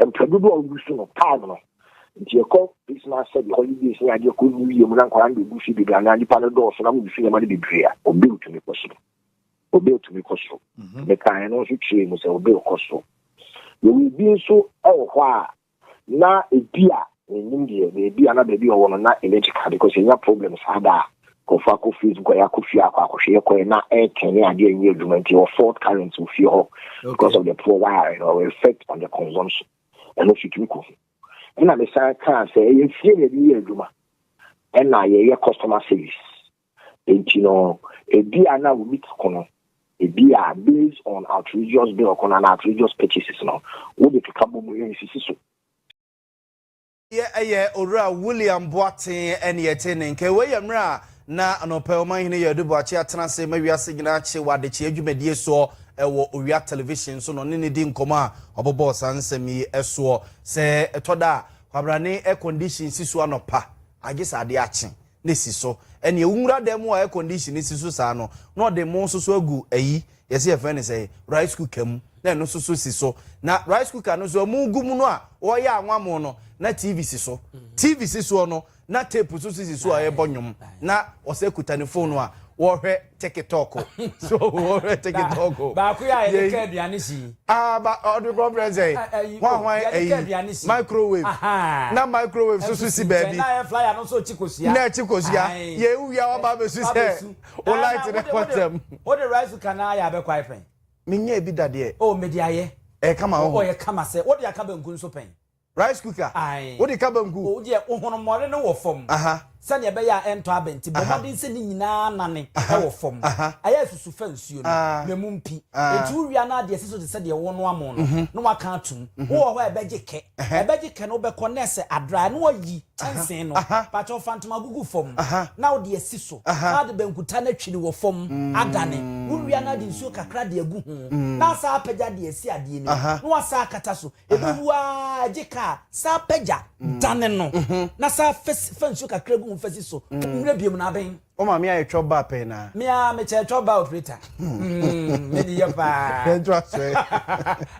Mprɛ dodoɔ a wogu so no time no nti yɛkɔ Christmas sɛdeɛ holidays ne adeɛ kɔ New Year mu na nkwadaa no bɛgu fie bebree anaa nnipa no dɔɔso na mogu so nneɛma no bebree a obe otumi kɔ soro obe otumi kɔ soro mhm. mekaa ɛno nso kyerɛɛ mu sɛ obe kɔ soro yɛwɔ ebi nso wɔ hɔ a na ebi a Mennim deɛ baabi a na baabi a ɔwɔ no na electrical because yɛnya problem saa da a nkurɔfoɔ akɔ facebook a yɛakɔ fie akɔ akɔhwɛ yɛkɔɛ na air turn ne adeɛ nnyɛ adwuma nti ɛwɔ fault current wɔ fie hɔ because of the poor wiring or effect on the consumption ɛno nso tumi kɔ ho ɛna mesan kaa sɛ ɛyɛ fie na ɛde yɛ adwuma ɛna yɛyɛ customer service nti no ebi a na wɔmi ti ko no ebi a based on outrageous bill ko no na outrageous purchases no wode keka bɔ mu yɛnsisi so Yɛ ɛyɛ Owura William Boateng ɛne yɛte ne nka. Wei yɛ mmerɛ a na anɔpɛ Ɔmanhene Yaa Adu Boakye atena ase ma wiase nyinaa kye wɔ adekyeɛ dwumadie soɔ wɔ Owia Television so na ɔne no di nkɔmmɔ a ɔbobɔɔ saa nsɛm yi soɔ. Sɛ ɛtɔ da a, kwabrane air condition si so anɔpa a gye sɛ adeɛ akye. no si so. Ɛnneɛ wo nwura dan mu a air condition no si so saa no, na ɔde mo nso so agu ayi, yɛse yɛfrɛ no sɛn, rice cooker mu, na ɛno nso so si so. Na rice cooker no nso a mogu mu no a ɔreyɛ anwammo no, na TV si so. TV si soɔ no, na tape nso so si so a ɛrebɔ nnwom, na ɔsɛ kuta ne fon a ɔrehwɛ. tikitɔko so wɔhwɛ tikitɔko baako yɛ a yɛde ka aduane si aa ba ɔde kɔ brɛ sɛ hwan hwan ɛyi microwave na microwave so so si baabi na yɛ flyer no so chikosia na chikosia yɛ ewia wa ba besu sɛ o light ne kɔtɛm o de rice cooker na ayɛ abɛkɔ ayɛ pɛn menyɛ ebi dadeɛ o mede ayɛ ɛyɛ kama wɔ hɔ ɔyɛ kama sɛ o de aka banku nso pɛn Rice cooker, Ae. Wode ka banku? O deɛ ohonommɔne no wɔ fam. Aha. Sɛdeɛ ɛbɛyɛ a ɛntɔ abɛ nti, bɔ Aha. mmɔden sɛ ne nyinaa nane Aha. wɔ fam. Aha. Ayɛ asusu fa nsuo no, Aa. na mu mpi. Aa. Enti wowia no a, de asi so te sɛ deɛ wonoa mo no, na woaka atom. Wowɔ hɔ a ɛbɛgye kɛ. Ɛhɛ. Ɛbɛgye kɛ na wobɛkɔ na ɛsɛ adraa na woayi kyɛnsee no. Aha. Pakyɛw fa ntoma gugu fam Aha. na wode asi so, Aha. na wode bankuta no atwiri wɔ fam adane. Wowia no a, de nsuo kakra de agu ho, na asan apagya de asi adeɛ no mu, Aha. na woasan akata so. Ɛbɛwu ara gye kaa saa pagya dane no na saa fa nsuo kakra gu mu fa si so mmerɛ biom na aben. Wo maame ayɛ twɔ ba pɛn na. Me a mekyɛ twɔ ba operator. Hmm, me deɛ paa. Ɛnto asɔe.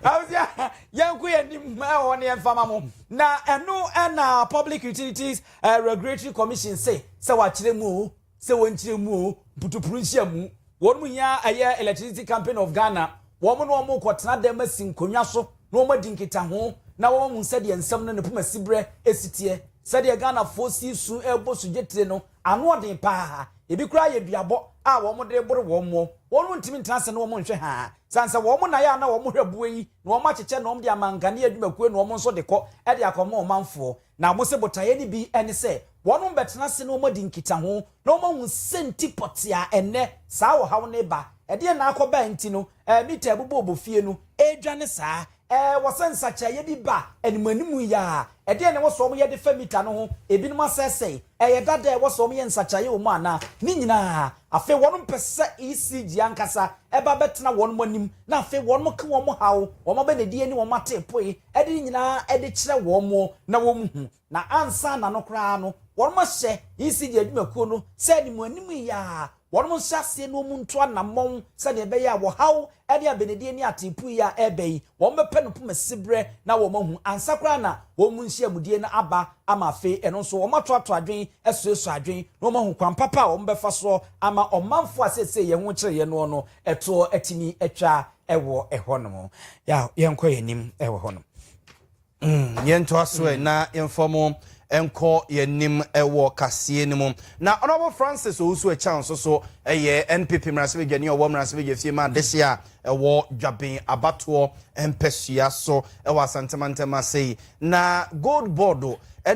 Awusia, yɛnko yɛn nim ɛwɔ ne yɛn fama mo. Na ɛno ɛna Public Utilities eh, Regulatory Commission se sɛ wakyerɛ mu o. sɛ wɔn nkyerɛ mu o, mputupuru nhyia mu, wɔn mu hia ɛyɛ Electricity Company of Ghana, wɔn ne wɔn kɔ tena dɛm asi nkonnwa so na wɔn adi nkitaho na wɔn ahu sɛdeɛ nsɛm no ne poma siberɛ ɛsi teɛ. Sɛdeɛ Ghanafoɔ si resu rebɔ sugye tire no, ano ɔden paa, ɛbi koraa yɛ duabɔ a wɔn de rebore wɔn moɔ, wɔn mu ntumi ntena ase na wɔn nhwɛ haa, sane sɛ wɔn na yɛ a na wɔn hwɛ boɔ yi na wɔn akyekyɛ na wɔn de ama nkanea adwumakuo na wɔn nso de kɔ de akɔma ɔmanfoɔ. Na wɔse botaeɛ no bi ne sɛ wɔnom bɛtena ase na wɔadi nkitaho na wɔahu sɛnti pɔtee a ɛnnɛ saa ɔhaw no reba, ɛdeɛn na akɔba a nti no mita a ɛbobɔɔbɔ fie no redwane saa. Ɛwɔ sɛ nsakyeraeɛ bi ba animuanimu yi ara. Ɛdeɛn na ɛwɔ sɛ wɔyɛ de fa mita no ho? Ebinom asɛesɛe? Ɛyɛ dada a ɛwɔ sɛ wɔyɛ nsakyeraeɛ wɔ mu anaa? Ne nyinaa. Afei wɔnom pɛ sɛ ECG ankasa ba bɛtena wɔnom anim na afei wɔnom ka wɔn haw, wɔn abɛnadie ne wɔn ateepoe de ne nyinaa de kyerɛ wɔn na wɔhu, na ansa na no koraa no, wɔahyɛ ECD adwumakuo no sɛ anim anim yi ara, wɔnhyɛ aseɛ na wɔntu anammɔn sɛdeɛ ɛbɛyɛ a wɔhaw ne abenedie ne ateepu yi a ɛreba yi, wɔbɛpɛ no poma siberɛ na wɔahu ansa koraa na wɔn nhyiamudie no aba ama afei ɛno nso wɔatoato adwene asuasua adwene na wɔahu kwan papa a wɔbɛfa soɔ ama ɔmanfoɔ a seesei yɛn ho kyere yɛn noɔ no toɔ atumi atwa ɛwɔ ɛhɔ nom ya yɛnkɔ yɛn anim ɛwɔ hɔ nom. Mm, yɛntoa so ɛ mm. na yɛmfa mu nkɔ yɛnim wɔ kaseɛ no mu na ɔnɔbo francis owusu ɛkyɛn nso so ɛyɛ npp mmaransɛbadwani ɔwɔ mmaransɛbadwa fie ma adehye a ɛwɔ dwaben abatoɔ mpɛsua so ɛwɔ asantemantam ase yi Na gold board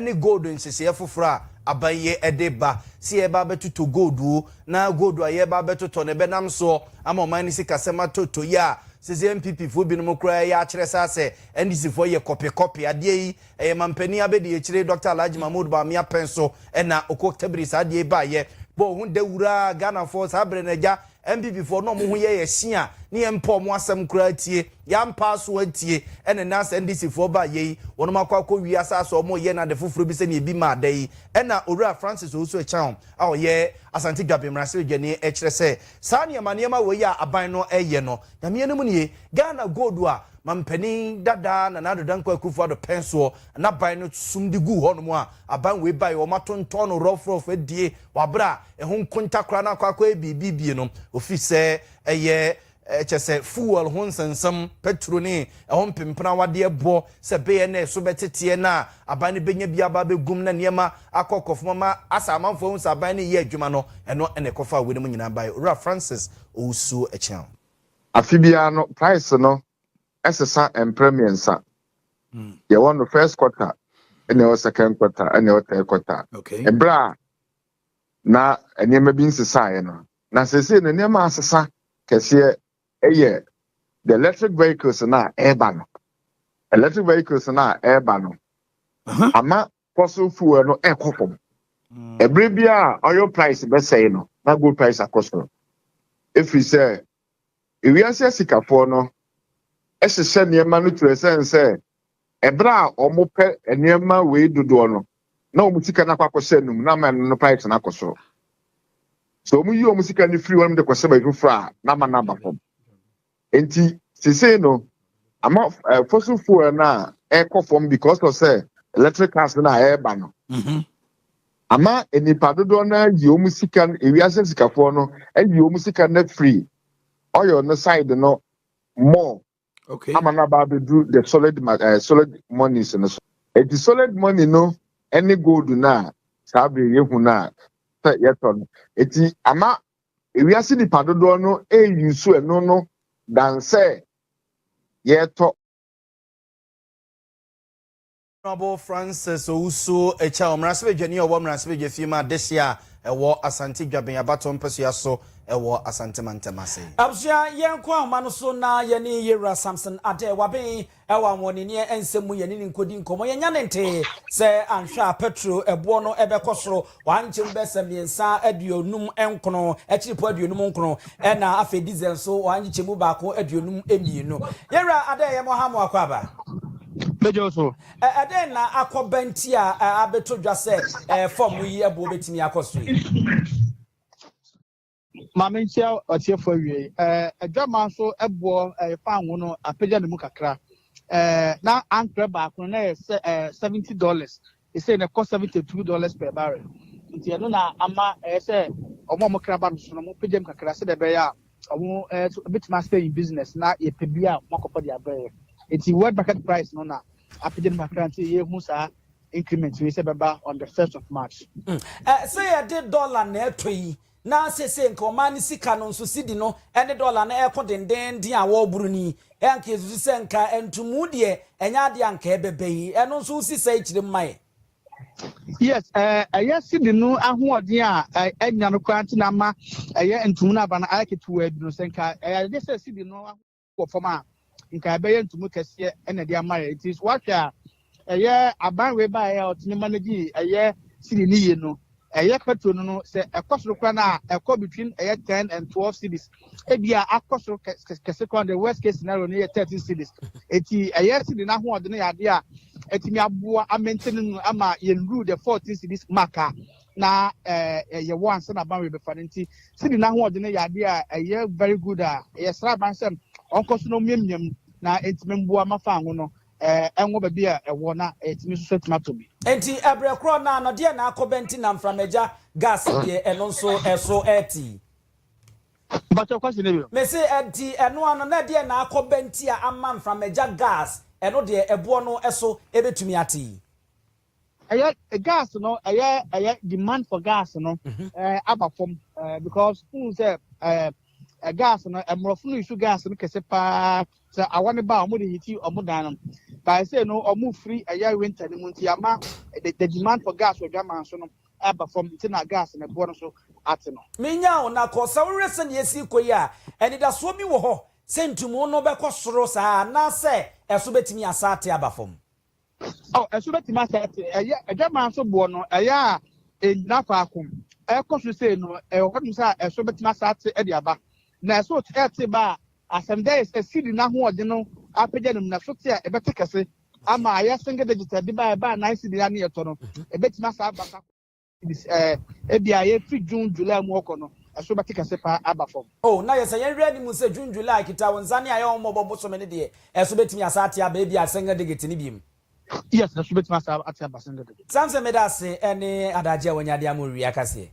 ne gold nhyehyɛɛ foforɔ a aban yi de ba, sɛ yɛreba abɛtotɔ gold o, na gold a yɛreba abɛtotɔ no ɛbɛnam soɔ ama ɔman no sikasɛm atɔ tɔ yi a, seesei NPP foɔ binom koraa reyɛ akyerɛ saa sɛ NDC foɔ yɛ kɔpe kɔpe. Adeɛ yi, ɛyɛ manpanin abɛdiakyire Dɔkta Alhaji Mahmood Bawumia pɛn so na Okwok Tabiri saa adeɛ yi baeɛ. Bɔ wo ho dawuraa Ghanafoɔ, saa berɛ no agya Mpipifoɔ no a wɔn ho yɛ yɛ hye a ne yɛn mpɛ wɔn asɛm koraa tie, yɛn ampa aso antie, ɛna ɛnɛ asɛ NDC foɔ ba yɛ yi, wɔnom akɔ akɔ wie asaase a wɔreyɛ no ade foforɔ bi sɛdeɛ ebi maa da yi, ɛna Owura Francis Owusu Acheaw a ɔyɛ Asante Dwabe Mmaraseredwani ɛkyerɛ sɛ saa nneɛma nneɛma wei a aban no ɛreyɛ no, Nyame anim nie, Ghana Gold a Mampanin dada Nana Addo Dankwa Akufo Addo pɛn soɔ na aban no sum de guu hɔ nom a aban wei baeɛ wɔn ato ntɔn no rɔf rɔf adie wɔ aberɛ a Ɛho nkonta koraa na akɔ akɔyɛ biribi bie no, ofiri sɛ ɛyɛ kyɛ sɛ fuel ho nsɛnsɛm, pɛturo ne ɛho mpempenawadeɛ boɔ sɛ bɛyɛ na ɛso bɛteteɛ na aban no bɛnya bi aba abɛgum na nneɛma akɔ kɔfam ama asɛ amanfoɔ ahu sɛ aban no reyɛ adwuma no, ɛno na ɛkɔfaa wei no mu nyinaa baeɛ. Owura Francis Owusuo Akyeaw. Afe biara no price no sesa mprɛ mmiɛnsa. Mm. Yɛwɔ no first quarter, ɛna ɛwɔ second quarter, ɛna ɛwɔ third quarter. Okay. Ɛberɛ a na nneɛma bi nsesaeɛ no na seesei no nneɛma asesa kɛseɛ ɛyɛ the electric vehicles no a ɛreba no electric vehicles no a ɛreba no ama fossil fuel no ɛkɔ fam ɛbere mm. bi a oil price bɛsɛe no na gold price akɔ soro ɛfiri sɛ Wiase asikafoɔ no hyehyɛ nneɛma no twerɛ sɛn sɛ ɛberɛ a wɔpɛ nneɛma wei dodoɔ no na wɔn sika no akɔ akɔhyɛ anum na ama ɛno no price no akɔ soro sɛ wɔn yi wɔn sika no firi hɔ nom de kɔhyɛ baabi foforɔ a na ama no aba fam nti sesei no ama uh, fossil fuel no a ɛkɔ fam because of sɛ electric cars no a ɛreba no mm-hmm. Ama nnipa dodoɔ no ara ayi wɔn sika no, ewiase sikafoɔ no ayi wɔn sika no afiri oil no side no more Okay. ama no aba abɛduru the solid ma- eh, solid monies no so. Eti solid money no ne gold no a saa bere yɛhu no a sɛ yɛtɔ no. Eti ama ewiase nipa dodoɔ no eyi so ɛno no dan sɛ yɛtɔ. Honourable Francis Owusu Ekyah, Mmarahyɛbadwani a ɔwɔ Mmarahyɛbadwafie mu adehye a ɛwɔ Asante Dwaben abatoɔ mpasua so wɔ Asante mantam ase. Abusua yɛnkɔ ahoma no so na yɛne Yewura Samson Adeh Waben wɔ ahoɔdenneɛ nsɛm mu yɛne no nkɔdi nkɔmmɔ. Yɛnya ne ntee sɛ anhwɛ a pɛtro boɔ no bɛkɔ soro Wɔankyem bɛsɛ mmiɛnsa aduonum nkron, akyiripo aduonum nkron, ɛna afei diesel nso wɔankyekyɛ mu baako aduonum mmienu. Yɛn wura adɛn yɛ mo ha mo akwaaba? Bɛgyaw so. Ɛ ɛdɛn na akɔba nti a ɛ abeto dwa sɛ ɛ fam yi ɛboɔ bɛtumi akɔ so yi? Ma menkyea ɔtiefo awiei. Ɛɛ, adwaman so ɛboɔ ɛyɛ fan ho no apagya ne mu kakra. Ɛɛ, na ankorɛ baako no na ɛyɛ sɛ ɛɛ seventy dollars. Ɛsɛ na ɛkɔ seventy two dollars per barrel. Nti ɛno na ama ɛyɛ sɛ wɔn a wɔkra ba no so no wɔpagya mu kakra sɛdeɛ ɛbɛyɛ a wɔn ɛɛ nso ɛbɛtumi asɛ in business na yɛpɛ bi a wɔakɔfa de abrɛ yɛ. Nti world market price no na apagya no mu kakra nti yɛhu saa increment wei sɛ ɛbɛba on the first of March. Ɛ sɛ yɛde dollar na ɛtɔ yi na seesei nka ɔman no sika no nso sidi no ne dɔla no reko dendeenden a wɔreboro no yi, anka yesusu sɛ nka ntumu deɛ ɛnyɛ adeɛ a nka ɛbɛba yi? Ɛno nso wosi saa akyire mu ma yɛn. Yes, eh, ɛyɛ sidi no ahoɔden a ɛnya no koraa nti na ama ɛyɛ ntumu no aba no ayɛ ketewaa bi no, sɛ nka ɛyɛ adeɛ sɛ sidi no wɔ fam a, nka ɛbɛyɛ ntumu kɛseɛ na ɛde ama yɛ. Nti so wahwɛ a, ɛyɛ aban wei baeɛ a ɔtumi manage ɛyɛ cedi ne yie no, ɛyɛ petrol no no, sɛ ɛkɔ soro koraa no a, ɛkɔ between ɛyɛ ten and twelve cedis. Ebi a akɔ soro kɛse koraa the worst case scenario no yɛ thirteen cedis. Eti ɛyɛ cedi no ahoɔden yɛ adeɛ a ɛtumi aboa amɛntɛne no ama yɛn rule the fourteen cedis mark a na ɛɛ ɛyɛ wo ansa na aban rebɛfa no nti sidi n'ahoɔden no yɛ adeɛ a ɛyɛ very good a yɛsrɛ aban sɛ ɔnkɔ so na ɔmiamia mu na ɛtumi mboa ma fan ho no ɛɛ ɛnwɔ baabi a ɛwɔ na ɛtumi nso so atumi atɔ bi. Enti ɛbrɛ korɔ no ara no deɛ na akɔ bɛ nti na mframagya gas deɛ ɛno nso ɛso ɛɛte. Mpakyɛw question no bio. Mese ɛnti ɛno ano na deɛ na akɔ bɛ nti a ama mframagya gas ɛno deɛ ɛboɔ no ɛso ɛbɛtumi ate. ɛyɛ gas no ɛyɛ ɛyɛ demand for gas no mhm. ɛɛ aba fam ɛɛ because n sɛ ɛɛ ɛ gas no ɛmorɔfo no isu gas no kɛse paa sɛ awa ne ba a wɔn de hiti wɔn dan no baa sɛ no wɔn firi ɛyɛ winter no mu nti ama the the demand for gas wɔ dwaman so no ɛba fam nti na gas no ɛboɔ no so ate no. menya wo na kɔ sɛ wohwɛ sɛ nea esi kɔ yi a anidasoɔ bi wɔ hɔ sɛ ntumu no bɛkɔ soro saa anaasɛ ɛso bɛtumi asa ate aba fam. Ɔ, ɛso bɛtumi asɛ te. Ɛyɛ adwaman so boɔ no, ɛyɛ a ɛnyina faako. Ɛkɔ so sei no, ɛwɔ hɔ nom sɛ ɛso bɛtumi asa te de aba. Na ɛso ɛte ba a, asɛmdɛ yɛ sɛ seed no ahoɔden no apagya no mu, na ɛso te a ɛbɛte kɛse ama ayɛ single digit. Ɛde ba a ɛbaa nine seed a ne yɛtɔ no, ɛbɛtumi asa aba sa. Ebia yɛfiri June, July mu ɔkɔ no, ɛso bɛte kɛse paa aba fam. Oh, na yɛsɛ yɛn werɛ anim sɛ June, July, Kita Wo Nsa ne Ayɛwommɔbɔ bosome no deɛ, ɛso bɛtumi asan ate aba ebia single digit no biom. Yes, ɛso bɛtumi asan ate aba single digit. Samson meda ase ɛne adagye a wanya de ama owie akaseɛ.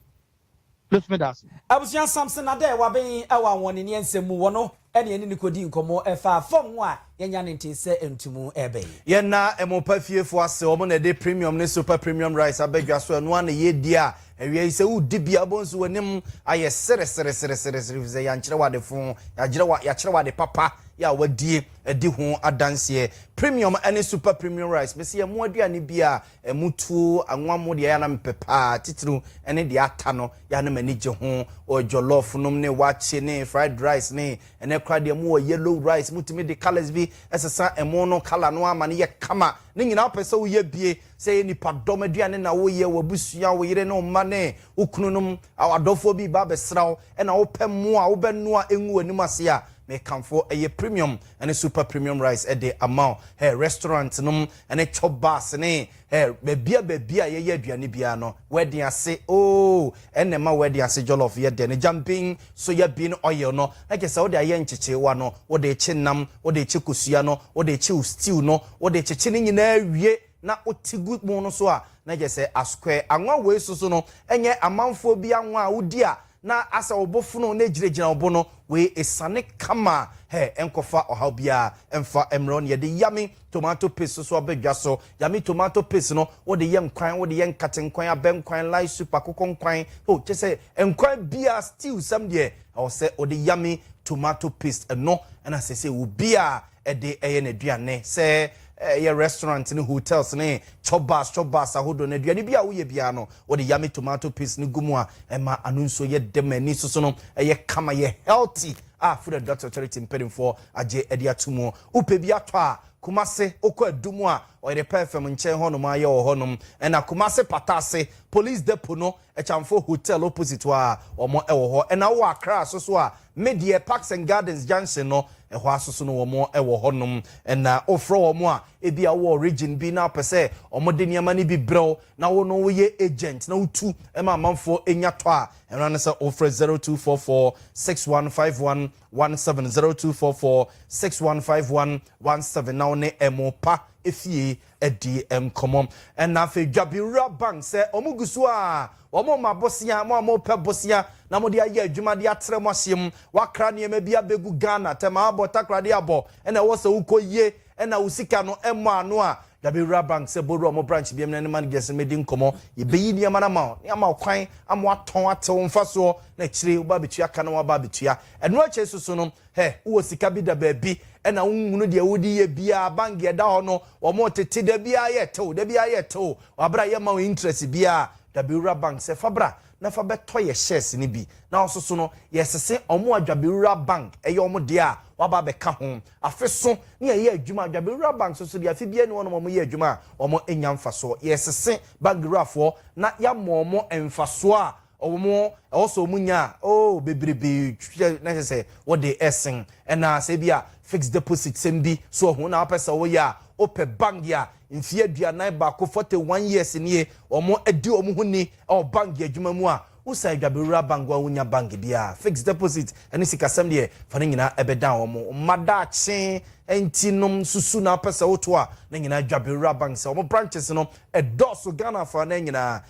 Meso meda ase. Abusua Samson Adeh Waben ɛwɔ Anwɔneneɛ nsɛm mu wɔ no ɛne ɛne no kɔdi nkɔmmɔ ɛfaa fɔm ho a yɛnya ne ntee sɛ ntumu ɛbɛ yi. Yɛn na ɛmo pa fie foɔ ase wɔn na ɛde premium ne super premium rice aba dwa so ɛno ara na yɛredi a awia yi sɛ woredi bi a wobɛhu nso w'anim ayɛ sereseresereseresere ɛfiri sɛ yɛankyerɛ wo ade fo yɛakyerɛ wo yɛakyerɛ wo ade papa yɛ a wadie adi ho adanseɛ premium ne super premium rice mese yɛn mo aduane biara Ɛmu tuo anwa mo deɛ ɛyɛ a na mepɛ paa titiriw ne deɛ ata no, ɛyɛ a na m'ani gye ho. Wɔ jollof nom ne wakye ne fried rice ne ɛnnɛ koraa deɛ mowɔ yellow rice, motumi de colours bi sesa ɛmo no colour no ara ma no yɛ kama. Ne nyinaa wopɛ sɛ woyɛ bie, sɛ ɛyɛ nnipadɔm aduane na woyɛ, w'abusua, wo yere ne wo mma ne wo kunu nom, w'adɔfoɔ bi reba abɛsra wo na wopɛ mo a wobɛnoa ngu w'anim ase a, mekamfo ɛyɛ premium ne super premium rice de ama wo. Hɛ restaurant nom ne chop bars ne eh bɛbia bɛbia yɛyɛ aduane biara no wɛden ase ooh ɛna ɛma wɛden ase jollof yɛ dɛ no jamping soya bean oil no na kyɛ sɛ wode ayɛ nkyekyeewa no wode kye nam wode kye kosua no wode kye wo stew no wode kyekye ne nyinaa awie na wote gu mu no so a na kyɛ sɛ asquare anwa wei soso no ɛnyɛ amanfoɔ bi anwa a wodi a Na asɛ wo bo fono na egyinagyina wo bo no, wei esiane kama a, hɛ, ɛnkɔfa ɔhaw biara mfa mmrɛ wo. Neɛ de yummy tomato paste soso aba dwa so. Yummy tomato paste no, wo de yɛ nkwan, wo de yɛ nkate nkwan, abɛ nkwan, lye soup, akokɔ nkwan, oh, kyerɛ sɛ nkwan biara, stew, sɛm deɛ, ɛwɔ sɛ wo de yummy tomato paste. Ɛno na sɛsɛ obiara de yɛ n'aduane, sɛ ɛyɛ restaurant ne hotels ne chop bars chop bars ahodoɔ no, aduane bi a woyɛ biara no, wode yummy tomato paste no gu mu a, ɛma ano nsuo yɛ dɛ ma ani soso no yɛ kama, yɛ healthy a Food and Drugs Authority mpanimfoɔ agye de ato mu. Wopɛ bi atɔ a, Kumasi, wokɔ Adu mu a, Ɔyere Pɛɛfɛm nkyɛn hɔnom ara yɛwɔ hɔnom, ɛnna Kumasi Pata Ase, Police Depot no, Ɛkyamfo Hotel opposite hɔ a wɔn wɔ hɔ ɛna wowɔ Accra aso so a me deɛ Parks and Gardens junction no ɛhɔ aso so no wɔn wɔ hɔ nom ɛna wofrɛ wɔn a ebi a wowɔ region bi na wopɛ sɛ wɔn de nneɛma no bi brɛw na wo no woyɛ agent na wotu ma amanfoɔ ɛnya tɔ a ɛno ne sɛ wofrɛ zero two four four six one five one one seven zero two four four six one five one one seven na wo ne ɛmo pa ɛfie dii nkɔmmɔ. Ɛnna afei dwabewura bang sɛ wɔgu so a wɔrema bosea, mo a mopɛ bosea na mode ayɛ adwuma de atra mo ahyeɛ mu, wɔakra nneɛma bi abɛgu Ghana, tɛm abɔ, takoradi abɔ, ɛnna ɛwɔ sɛ wokɔyie, ɛnna wo sika no mmɔ ano a, dwabewura bang sɛ bɔwura mo branch biam na ne managers no mmɛdi nkɔmmɔ. Yɛbɛyi nneɛma no ama wo na yɛama wo kwan ama woatɔn ate wo mfasoɔ, na akyire wobɛba abɛtua ka na woaba abɛtua ɛno akyire nso so no, Hɛ, wowɔ sika bi da baabi ɛna wonhunu deɛ wode yɛ biaa, bank deɛ ɛda hɔ no wɔn tete da biaa yɛ tew, da biaa yɛ tew, wabrɛ a yɛ mma wo interest biaa, da bɛwura bank sɛ fa bra na fa bɛtɔ yɛ shares no bi na wososo no, yɛ sese wɔn a dwabɛwura bank ɛyɛ wɔn deɛ a waba abɛka ho, afe so ne yɛ yɛ adwuma a dwabɛwura bank soso deɛ afe biaa ni hɔ nom wɔn yɛ adwuma a wɔn nya mfasoɔ, yɛ sese bank wurafoɔ na yɛ ama wɔn mfasoɔ a Wɔn a ɛwɔ sɛ wɔn nya oh bebrebe kyɛ na kyɛ sɛ wɔde ɛsen ɛna sɛ bi a fixed deposit sɛm bi so ɔho na wɔpɛ sɛ wɔyɛ a wɔpɛ bank a mfie aduanan baako forty one years nie wɔn adi wɔn ho ni ɛwɔ bank adwuma mu a wosan adwabewura bank wɔn a wonya bank biara fixed deposit ɛne sikasɛm deɛ fa ne nyinaa ɛbɛdan wɔn mma daakye ɛnti nom susu na wɔpɛ sɛ woto a ne nyinaa adwabewura bank sɛ wɔn branches no ɛdɔɔso Ghana afa na nyinaa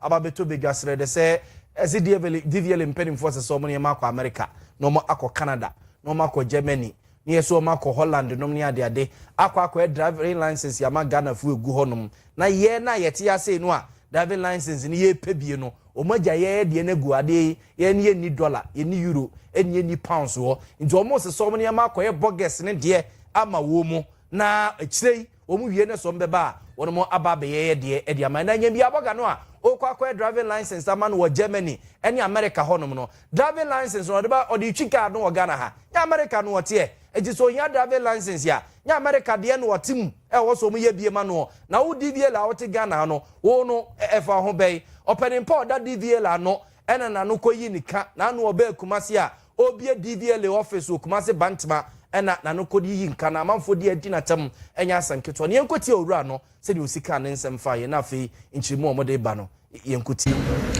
Aba abɛtɔ badwa serɛ dɛ sɛ ɛdze Dievele, Diviele mpanyimfoɔ sɛ sɛ ɔmo ne yɛn akɔ America, na ɔmo akɔ Canada, na ɔmo akɔ Germany, ne yɛ so ɔmo akɔ Holland nom ne ade ade, akɔ akɔɛ driving license ama Ghanafoɔ egu hɔ nom, na yɛn a yɛte ha sei no a driving license no yɛɛpɛ bie no, ɔmo agya yɛɛ deɛ no agu hɔ, adeɛ yi yɛn no yɛnni dollar, yɛnni euro, ɛne yɛnni pounds wɔ hɔ, nti ɔmo se sɛ ɔmo ne yɛn akɔyɛ bogus no deɛ ama wɔn mo, na akyire yi Wɔn wie na sɔm bɛba a wɔnom aba abɛyɛyɛ deɛ de ama. Ɛna nya bi abɔga no a ɔɔkɔ akɔyɛ driving license ama no wɔ Germany ɛne America hɔ nom no. Driving license no ɔde ba ɔde retwi car no wɔ Ghana ha. Nyɛ America no ɔteɛ. Nti sɛ ɔhia driving license a nyɛ America deɛ no ɔte mu a ɛwɔ sɛ wɔn yɛ bie ma noɔ. Na wo DVLA a wote Ghana ha no wo no ɛfa wo ho bɛn. Ɔpɛnimpɔ a ɔda DVLA no ɛna na no kɔ yi ne ka na ano ɔbɛɛ Kumasi a Ɔrebue DVLA office wɔ Kumasi Bantama ɛna n'ano kɔ yiyi nka na amanfoɔ di adi n'atam ɛnyɛ asɛm ketewa no yɛnkɔtie owura no sɛdeɛ ɔsi kaa ne nsɛm faa yɛn na afei nkyeremu a wɔde reba no yɛnkɔtie.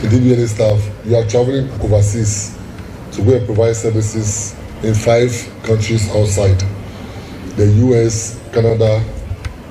DVLA staff, you are travelling overseas to go and provide services in five countries outside the US, Canada,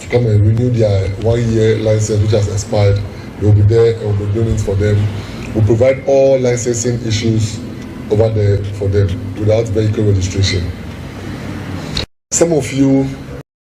to come and renew their one year license which has expired, they will be there and will be doing it for them, we provide all licensing issues over there for them without vehicle registration. Some of you.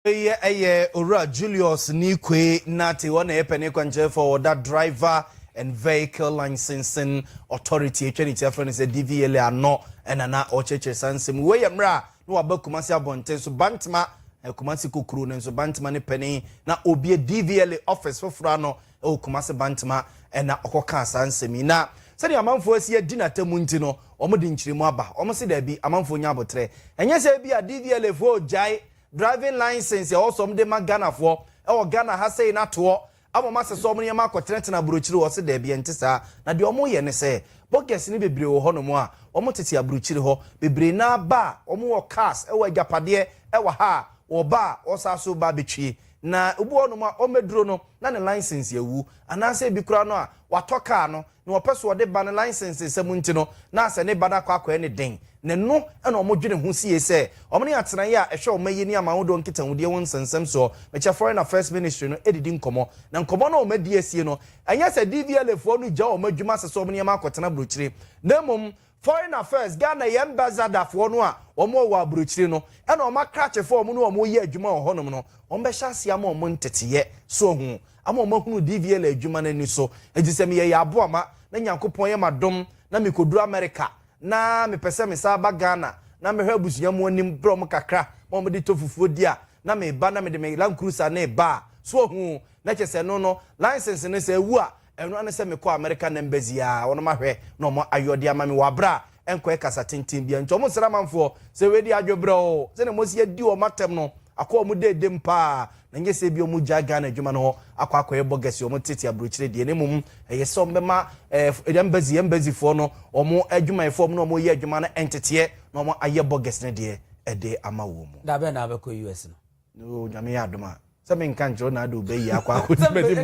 Wei yɛ Owura Julius Nikwe Nartey, ɔno na ɛyɛ panin kwankyerɛfoɔ a ɔda Driver and Vehicle Licensing Authority, atwa ne ti afrɛ no sɛ DVLA, ano na na ɔrekyerɛkyerɛ saa nsɛm yi. Wei yɛ mmerɛ a na waba Kumasi abɔnten so, Bantama eh, Kumasi kokuro no nso Bantama ne panin na obie DVLA office foforɔ ano wɔ Kumasi Bantama eh, na ɔkɔkaa saa nsɛm yi na sɛdeɛ amanfoɔ asi adi n'atamu nti no wɔn de nkyerɛmu aba wɔn se daabi amanfoɔ nya aboterɛ ɛnyɛ sɛ bi a DVLA foɔ gyae driving license ɛwɔ sɛ wɔn de ma Ghanafoɔ ɛwɔ Ghana ha sei n'atoɔ Ama ɔmo asesa ɔmo nneɛma akɔtenatena aburokyire hɔ? Ɔse daabi, ɛnte saa. Na deɛ ɔmo yɛ ne sɛ, bogus no bebree wɔ hɔ nom a, ɔmo tete aburokyire hɔ. Bebree no ara ba a, ɔmo wɔ cars, ɛwɔ agyapadeɛ ɛwɔ ha a, ɔba a, ɔsan so ba betwie. Na obi wɔ hɔ nom a, ɔmɛduro no, na ne license awu. Anaasɛ ebi koraa no a, watɔ car no, na ɔpɛ so ɔde ba no license nsɛm nti no na asɛ ne ba no akɔ akɔɛ ne den na ɛno na ɔmo dwene ho sie sɛ ɔmo ne atenaeɛ a ɛhwɛ ɔma yi ne amahodoɔ nkitahudie ho nsɛnsɛm soɔ mekyɛ foreign affairs ministry no ɛdidi nkɔmɔ na nkɔmɔ no a ɔmo adi asie no ɛnyɛ sɛ DVLA foɔ no gya ɔmo adwuma sesɛ ɔmo nneɛma akɔtena brokyire na mmom Foreign Affairs Ghana yɛ Ambassador foɔ no a wɔn wɔ wɔ abrokyire no ɛna wɔn akrakye foɔ a wɔn ne wɔn yɛ adwuma wɔ hɔ nom no wɔn bɛhyɛ aseɛ ama wɔn nteteɛ so ahu ama wɔn ahunu DVLA adwuma no ani so enti sɛ meyɛ yaaboa ma na Nyankopɔn yɛ m'adom na me kɔduru America na me pɛ sɛ me san ba Ghana na mɛhwɛ abusua mu anim brɛ wɔn kakra ma wɔn de tɔ fufuo di a na me ba na me de me Land Cruiser no reba a so ahu na kyɛ sɛ ɛno no license no sɛ ɛwu a Ɛno ara ne sɛ mekɔɔ American Embassy a wɔnom ahwɛ na wɔn ayɔdeɛ ama me wɔ aberɛ a ɛnkɔɛ kasa tenten biara nti wɔn srɛ amanfoɔ sɛ wei deɛ adwebrɛ oo sɛdeɛ mosi adi wɔn atɛm no akɔ wɔn deedem paa na nyɛ sɛ ebia wɔn gyae Ghana adwuma no hɔ akɔ akɔyɛ bɔgɛse wɔn tete aburokyire deɛ na mmom ɛyɛ sɛ wɔn bɛma ɛɛ Embassy Embassy foɔ no wɔn adwumayɛfoɔ wɔn na wɔn yɛ adwuma no nteteɛ na wɔn ayɛ bɔgɛse no deɛ ɛde ama wɔn. Da bɛn na wobɛkɔ US no? No nyame yɛ adom a. Sɛ me nka nkyerɛ wo na ade wo bɛ yi akɔ akɔ ti bɛ di mu.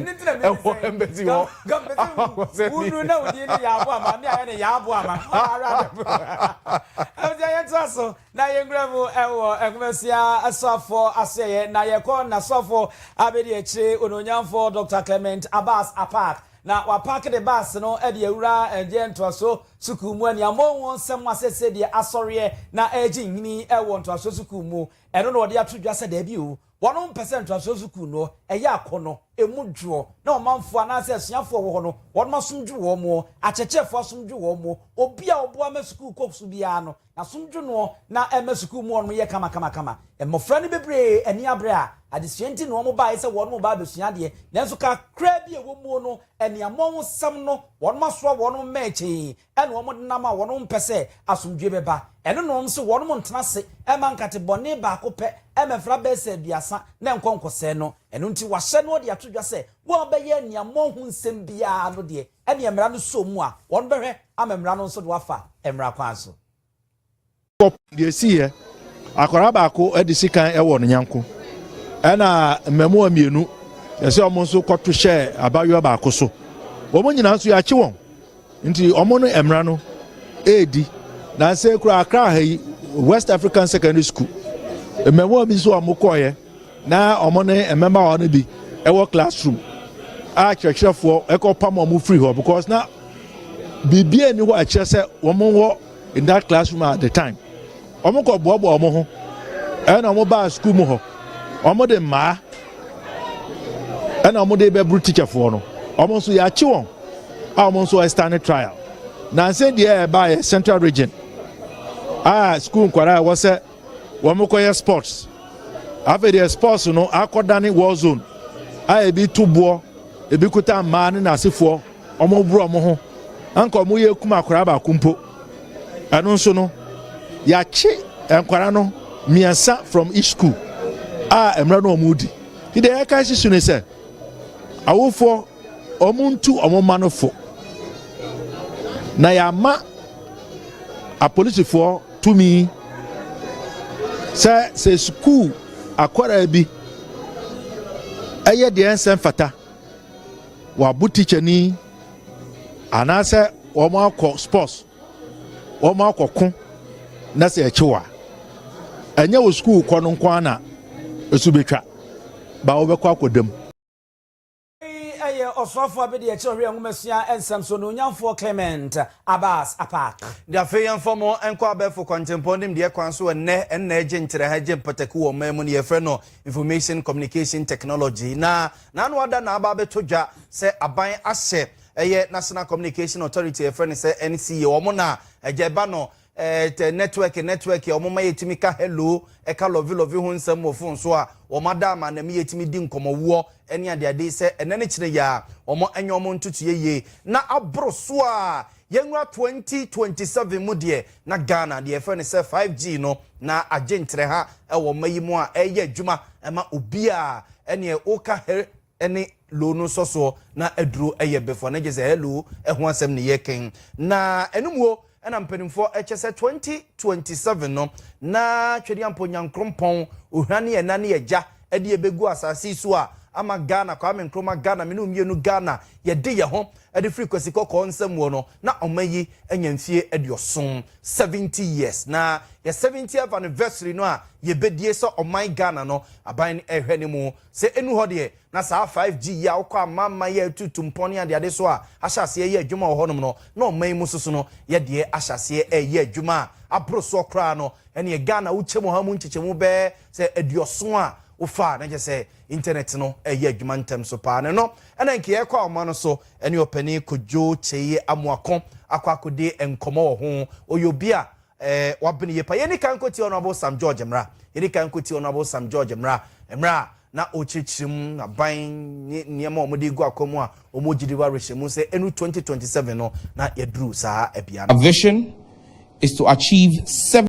Ɛwɔ ɛmbɛ ti hɔ. Wunu na wudi ne yɛ abo ama mi ayɛ ne yɛ abo ama. Ɔna ara bɛ bu. Ɛmɛ yɛ to aso na yɛ ngura mu ɛwɔ ɛnkumasia asɔfo asoɛyɛ na yɛ kɔ na sɔfo abedi akyire ononyamfo Dr. Clement Abbas Apaak na wapaak de baase no ɛde awura ɛgyeɛ ntoasoɔ sukuu mu ɛnia mɔ wɔn sɛm asɛsɛ deɛ asɔreɛ na ɛgye nhini ɛwɔ ntoasoɔ sukuu mu Ɛno na wɔde ato dwa sɛ daabi o, wɔnom mpɛ sɛ ntoasoɔ sukuu no, ɛyɛ akɔnnɔ, ɛmu dwoɔ, na ɔmanfoɔ anaasɛ asuafoɔ a wɔwɔhɔ no, wɔnom asom dwo wɔn, akyerɛkyerɛfoɔ asom dwo wɔn, obi a ɔboa ma sukuu kɔ so biara no, n'asom dwo noɔ, na ɛma sukuu mu hɔnom yɛ kamakamakama. Mmɔfra no bebree ani abre a adesua nti na wɔnom baeɛ sɛ wɔnom reba abɛsua adeɛ, nanso kakraa bi a ɛwɔ muo no, aniammɔnhosɛm no, wɔnom asoa wɔnom mmɛɛkyee, ɛna wɔn denam a wɔnom mpɛ sɛ asomdwoe bɛba, ɛno na wɔnom se wɔnom ntena ase mma nkate bɔne baako pɛ mmɛfra bɛsa aduasa na ɛnkɔ nkɔsɛe no, ɛno nti wɔahyɛ na wɔde ato dwa sɛ wɔn a bɛyɛ aniammɔn ho nsɛm biara no deɛ ɛneɛ mmara no sɔɔ mu a wɔnom bɛhwɛ ama mmara no nso de wɔafa mmara kwan so. Deɛ ɛsiiɛ, Akwadaa baako de sikan wɔ ne nyanko ɛna mmɛmoa mmienu ɛsɛ wɔn nso kɔto hyɛ abayewa baako so. Wɔn nyinaa nso yɛakye wɔn nti wɔn no mmara no ɛredi. Na nsɛ kura akra ha yi West African Secondary School mmɛmoa bi nso wɔn kɔɔeɛ na wɔn ne mmɛmawa no bi ɛwɔ classroom a kyerɛkyerɛfoɔ ɛkɔpam wɔn firi hɔ because na biribi ani hɔ a ɛkyerɛ sɛ wɔn wɔ in that classroom at the time wɔn kɔ boaboa wɔn ho ɛna wɔn baa sukuu mu hɔ wɔn de mmaa ɛna wɔn de bɛburu tikyafoɔ no wɔn nso yɛakye wɔn a wɔn nso ɛstane trial nansa deɛ ɛbaeɛ central region a sukuu nkwadaa ɛwɔ sɛ wɔn kɔyɛ sports afei deɛ sports no akɔdane war zone a ebi to boɔ ebi kuta mmaa ne n'asefoɔ. Wɔboro wɔn ho, anka wɔn yɛ kum akwadaa baako mpo. Ɛno nso no, yɛakye nkwadaa no mmiɛnsa from each school a mmerɛ no wɔn di. Ti deɛ yɛka si so ne sɛ, awofoɔ wɔn ntu wɔn mma no fo, na yɛama apolisifoɔ tumi sɛ sɛ sukuu akwadaa bi ɛyɛ deɛ ɛnsɛ mfata. wɔabo tikyani anaasɛ wɔn akɔ sports wɔn akɔ ko na sɛ ɛkyew a ɛnyɛ wɔ sukuu kɔ no nko ara na esu betwa ba wɔbɛkɔ akɔ dam. ɛyɛ ɔsrɔfoɔ a bɛdi akyire ɔhwɛ nwomasua nsɛm so nuonyamfoɔ Clement Abass Apaak. De afei yɛmfa mo nkɔ abɛɛfo kwantempɔn nimdeɛ kwan so ɛnnɛ ɛnna ɛgye nkyerɛha gye mpataku wɔ ɔman mu no yɛfrɛ no Information Communication Technology na N'ano ada na aba abɛtɔ dwa sɛ aban ahyɛ ɛyɛ National Communication Authority a yɛfrɛ no sɛ NCA, wɔn na agya ɛba no eh, network network a wɔma yɛtumi ka hello, ɛka lɔve lɔve ho nsɛm wɔ fon so a wɔn ada ama na ɛma yɛtumi di nkɔmmɔwoɔ ne adeade sɛ ɛnɛ ne kyerɛ yi a wɔn nyɛ wɔn ntotoyɛ yie na aboro so a Yɛnwura 2027 mu deɛ, na Ghana deɛ yɛfrɛ no sɛ 5G no, na agye nkyerɛha wɔ mma yi mu a ɛreyɛ adwuma ma obiara. Ɛneɛ woka her ne lo no nsɔsoɔ na aduro yɛ before no gye sɛ hello ho asɛm ne yɛreka yi. Na ɛno muo na mpanimfoɔ kyɛ sɛ 2027 no, na Twedeampɔ Nyankrompɔn, Ohwira ne Ɛna ne Agya de yɛbɛgu asase yi so a, ama Ghana, Kwame Nkrumah Ghana, me ne wo mmienu Ghana, yɛde yɛn ho. Ɛde firi Kwasi Kɔkɔɔ nsam wɔ no, na ɔman yi anya mfie aduɔson, seventy years, na yɛ seventieth anniversary no a yɛbɛdie sɛ ɔman Ghana no aban no ɛrehwɛ no mu. Sɛ ɛnu hɔ deɛ, na saa 5G yi a wokɔ amamman yi a ɛtutu mpɔn ne adeade so a ahyɛ aseɛ reyɛ adwuma wɔ hɔnom no, na ɔman yi mu soso no yɛ deɛ ahyɛ aseɛ reyɛ adwuma a aboro soɔ koraa no. Ɛnneɛ Ghana wo kyɛmu ha mu nkyekyɛmu bɛyɛ sɛ aduɔson a wofaa, na kyerɛ sɛ internet no reyɛ adwuma ntɛm so paa. Na ɛno Ɛna nka yɛkɔ ahoma no so ɛne ɔpanin Kojo Kyei Amoako akɔ akɔdi nkɔmmɔ wɔ ho. Ɔyɛ obi a eh, wabene yie pa. Yɛni kan nkɔtie Honourable Sam George mmra. Yɛni kan nkɔtie Honourable Sam George mmra. Mmerɛ a na ɔrekyerɛkyerɛ mu aban ne nneɛma a wɔde regu akwan mu a wɔregye di wɔ awerɛhyɛmu mu sɛ ɛnu 2027 no na yɛaduru saa bea no. Our vision is to achieve seven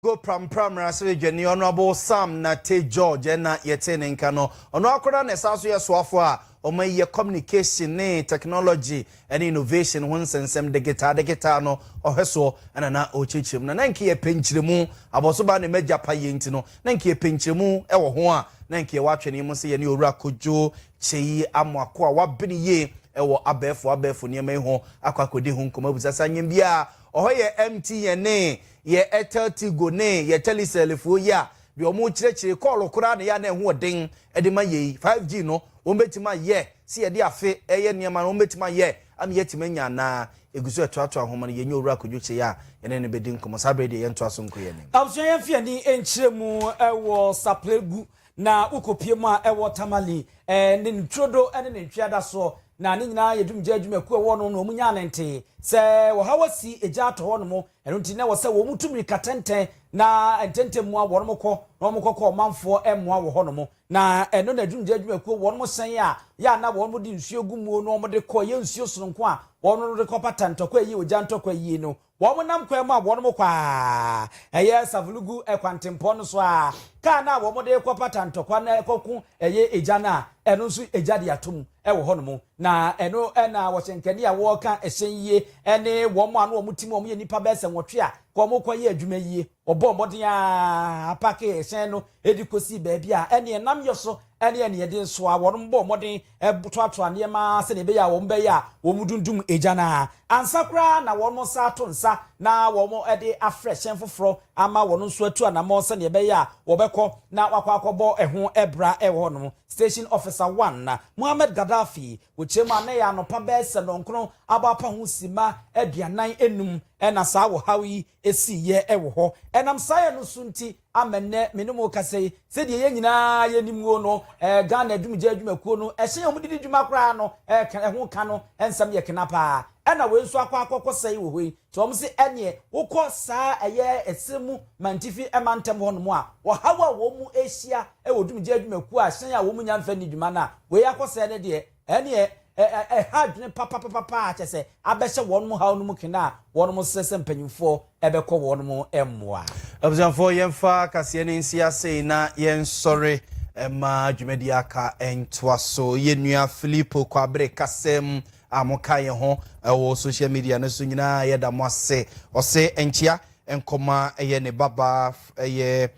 Go prampra Mmarahyɛbadwa dwani Honourable Sam Nartey George ɛna yɛtee ne nka no. Ɔno ara koraa na ɛsan nso yɛ soafoɔ a wɔayi yɛ Communication ne Technology ne Innovation ho nsɛnsɛm degetaa degetaa no ɔhwɛsoɔ ɛna na ɔrekyerɛkyerɛ mu. Na na nka yɛpɛ nkyerɛmu, abɔso baa ne m'agya payɛ nti no, na nka yɛpɛ nkyerɛmu wɔ ho a na nka yɛwɔ atwɛneɛ mu sɛ yɛne Owura Kojo Kyei Amoako a wabene yie wɔ abɛɛfo abɛɛfo nneɛma yi ho akɔ akɔdi ho nkɔmmɔ. Abusaseɛ anwembiaa ɔhɔ yɛ MTN ne Yɛ Etel Tigo ne yɛ Telecel foɔ yi a deɛ wɔn rekyerɛkyerɛ kɔɔlo koraa na ɛyɛ a na ɛho ɔden de ma yei. 5G no wɔn bɛtumi ayɛ sɛ yɛde afe reyɛ nneɛma no wɔn bɛtumi ayɛ ama yɛatumi anya anaa? Ɛgu so ɛtoatoa nwoma no yɛnyɛ Owura Kojo Kyei a yɛne no bɛdi nkɔmmɔ saa berɛ yi deɛ yɛntoa so nkɔ yɛn anim. Abusua yɛn fi ani nkyerɛ mu wɔ Sapelegu na wo kɔ pie mu a ɛwɔ Tamale ne ne turodo ne ne ntwea da soɔ na ne nyinaa yɛ dumgya adwumakuo ɛwɔ no na wɔn nyinaa nantee sɛ ɔhaw asi egya atɔ hɔ nom Ɛno nti na ɛwɔ sɛ wɔn tu mmirika tɛntɛn na ntɛntɛm mu a wɔn kɔ na wɔn kɔkɔ ɔmanfoɔ mmoa wɔ hɔnom. Na ɛno na adwumgya adwumakuo wɔn sɛn a yɛ a na wɔn de nsuo gu muo na wɔn de kɔ, ɛyɛ nsuo sononko a wɔn de kɔ pata ntɔkwa ɛyɛ ogya ntɔkwa yie no, wɔn nam kwan mu a wɔn kɔ a ɛyɛ Savulugu kwantempɔn no so a kaa no a wɔn de kɔ pata ntɔkwa no kɔko ɛyɛ egya no a ɛno nso egya de ato mu. wɔ hɔnom, na ɛno na wɔhyɛ nkani a wɔka hyɛn yie ne wɔn a na wɔn tim wɔn yɛ nnipa bɛyɛ sɛ nwɔtwe a wɔkɔyɛ adwuma yie. Wɔbɔɔ mmɔden ara paakee ɛhyɛn no de kɔsii baabi a ɛne ɛnam yɛ so ne ɛne ɛde nsoa. Wɔbɔɔ mmɔden toatoa nneɛma sɛdeɛ ɛbɛyɛ a wɔn bɛyɛ a wɔn dundum gya no ara ansa koraa na wɔn nsa ato nsa na wɔn de afrɛ hyɛn foforɔ ama wɔn nso atu anammɔn sɛdeɛ ɛbɛyɛ a wɔbɛkɔ na wɔakɔ akɔbɔ ɛho bra wɔ hɔnom. Station Officer One na Mohamed Gaddafi wɔ kyerɛ mu a na ɛyɛ anɔpa bɛyɛ sɛ nɔnkron abɔ apa ho simma aduanan anum na saa ɔhaw yi siiɛ wɔ hɔ. Ɛnam saa yɛ no so nti ama nnɛ me ne mo rekasa yi, sɛdeɛ yɛn nyinaa yɛnim o no, Ghana Adumgya Adwumakuo no ɛhyɛn a wɔde di dwuma koraa no ɛka, ɛho ka no nsɛm yɛ kena paa. Ɛna wei nso akɔ akɔkɔ sɛe wɔ hɔ yi. Tom se ɛneɛ wokɔ saa ɛyɛ ɛserɛ mu mantifi mantam hɔ nom a, ɔhaw a wɔn mu ɛhyia wɔ dwumgye adwumakuo a hyɛn a wɔn mu nya mfa nni dwuma no a wei akɔsɛɛ no deɛ, ɛneɛ ɛha adwene papapapapa a kyɛsɛ abɛhyɛ wɔn nom haw no mu kena a wɔn mo srɛ sɛ mpanyinfoɔ ɛbɛkɔ wɔn mo mmoa. Abusuafoɔ yɛmfa kaseɛ no nsi asei na yɛnsɔre mma dwumadie aka ntoa so. Yɛn nua Filipo Kwabre kasɛɛ mu a moka yɛn ho wɔ social media no so nyinaa, yɛda mo ase. Ɔse nkyea nkɔma ɛyɛ ne babaa ɛyɛ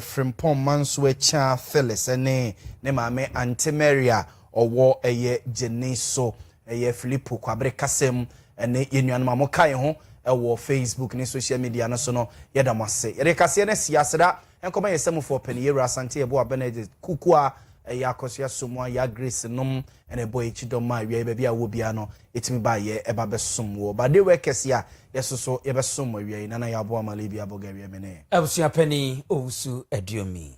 Frimpong Mansoakyia Phyllis ɛne ne maame Ante Mary a ɔwɔ ɛyɛ Gyene so ɛyɛ Filipo Kwabere Kasem ɛne yɛn nuanom a moka yɛn ho wɔ Facebook ne social media no so no, yɛda mo ase. Yɛde kaseɛ no asi aseda Nkɔmɔ yɛ Samufoɔ pɛn yɛwura Asante Yeboah Benedict Kukua ɛyɛ Akɔsua Somoa ya Grace nom ɛna ɛbɔ yɛn kyidɔm ma awiaɛ baabi a wowɔ biara no yɛtumi ba yɛ ɛba bɛsom woɔ ba de wɛ kɛse a yɛsoso yɛbɛsom mo awiaɛ Nana Yaboa Malebi Abɔga awiaɛ me ne. Abusua panin Owusu Aduomi.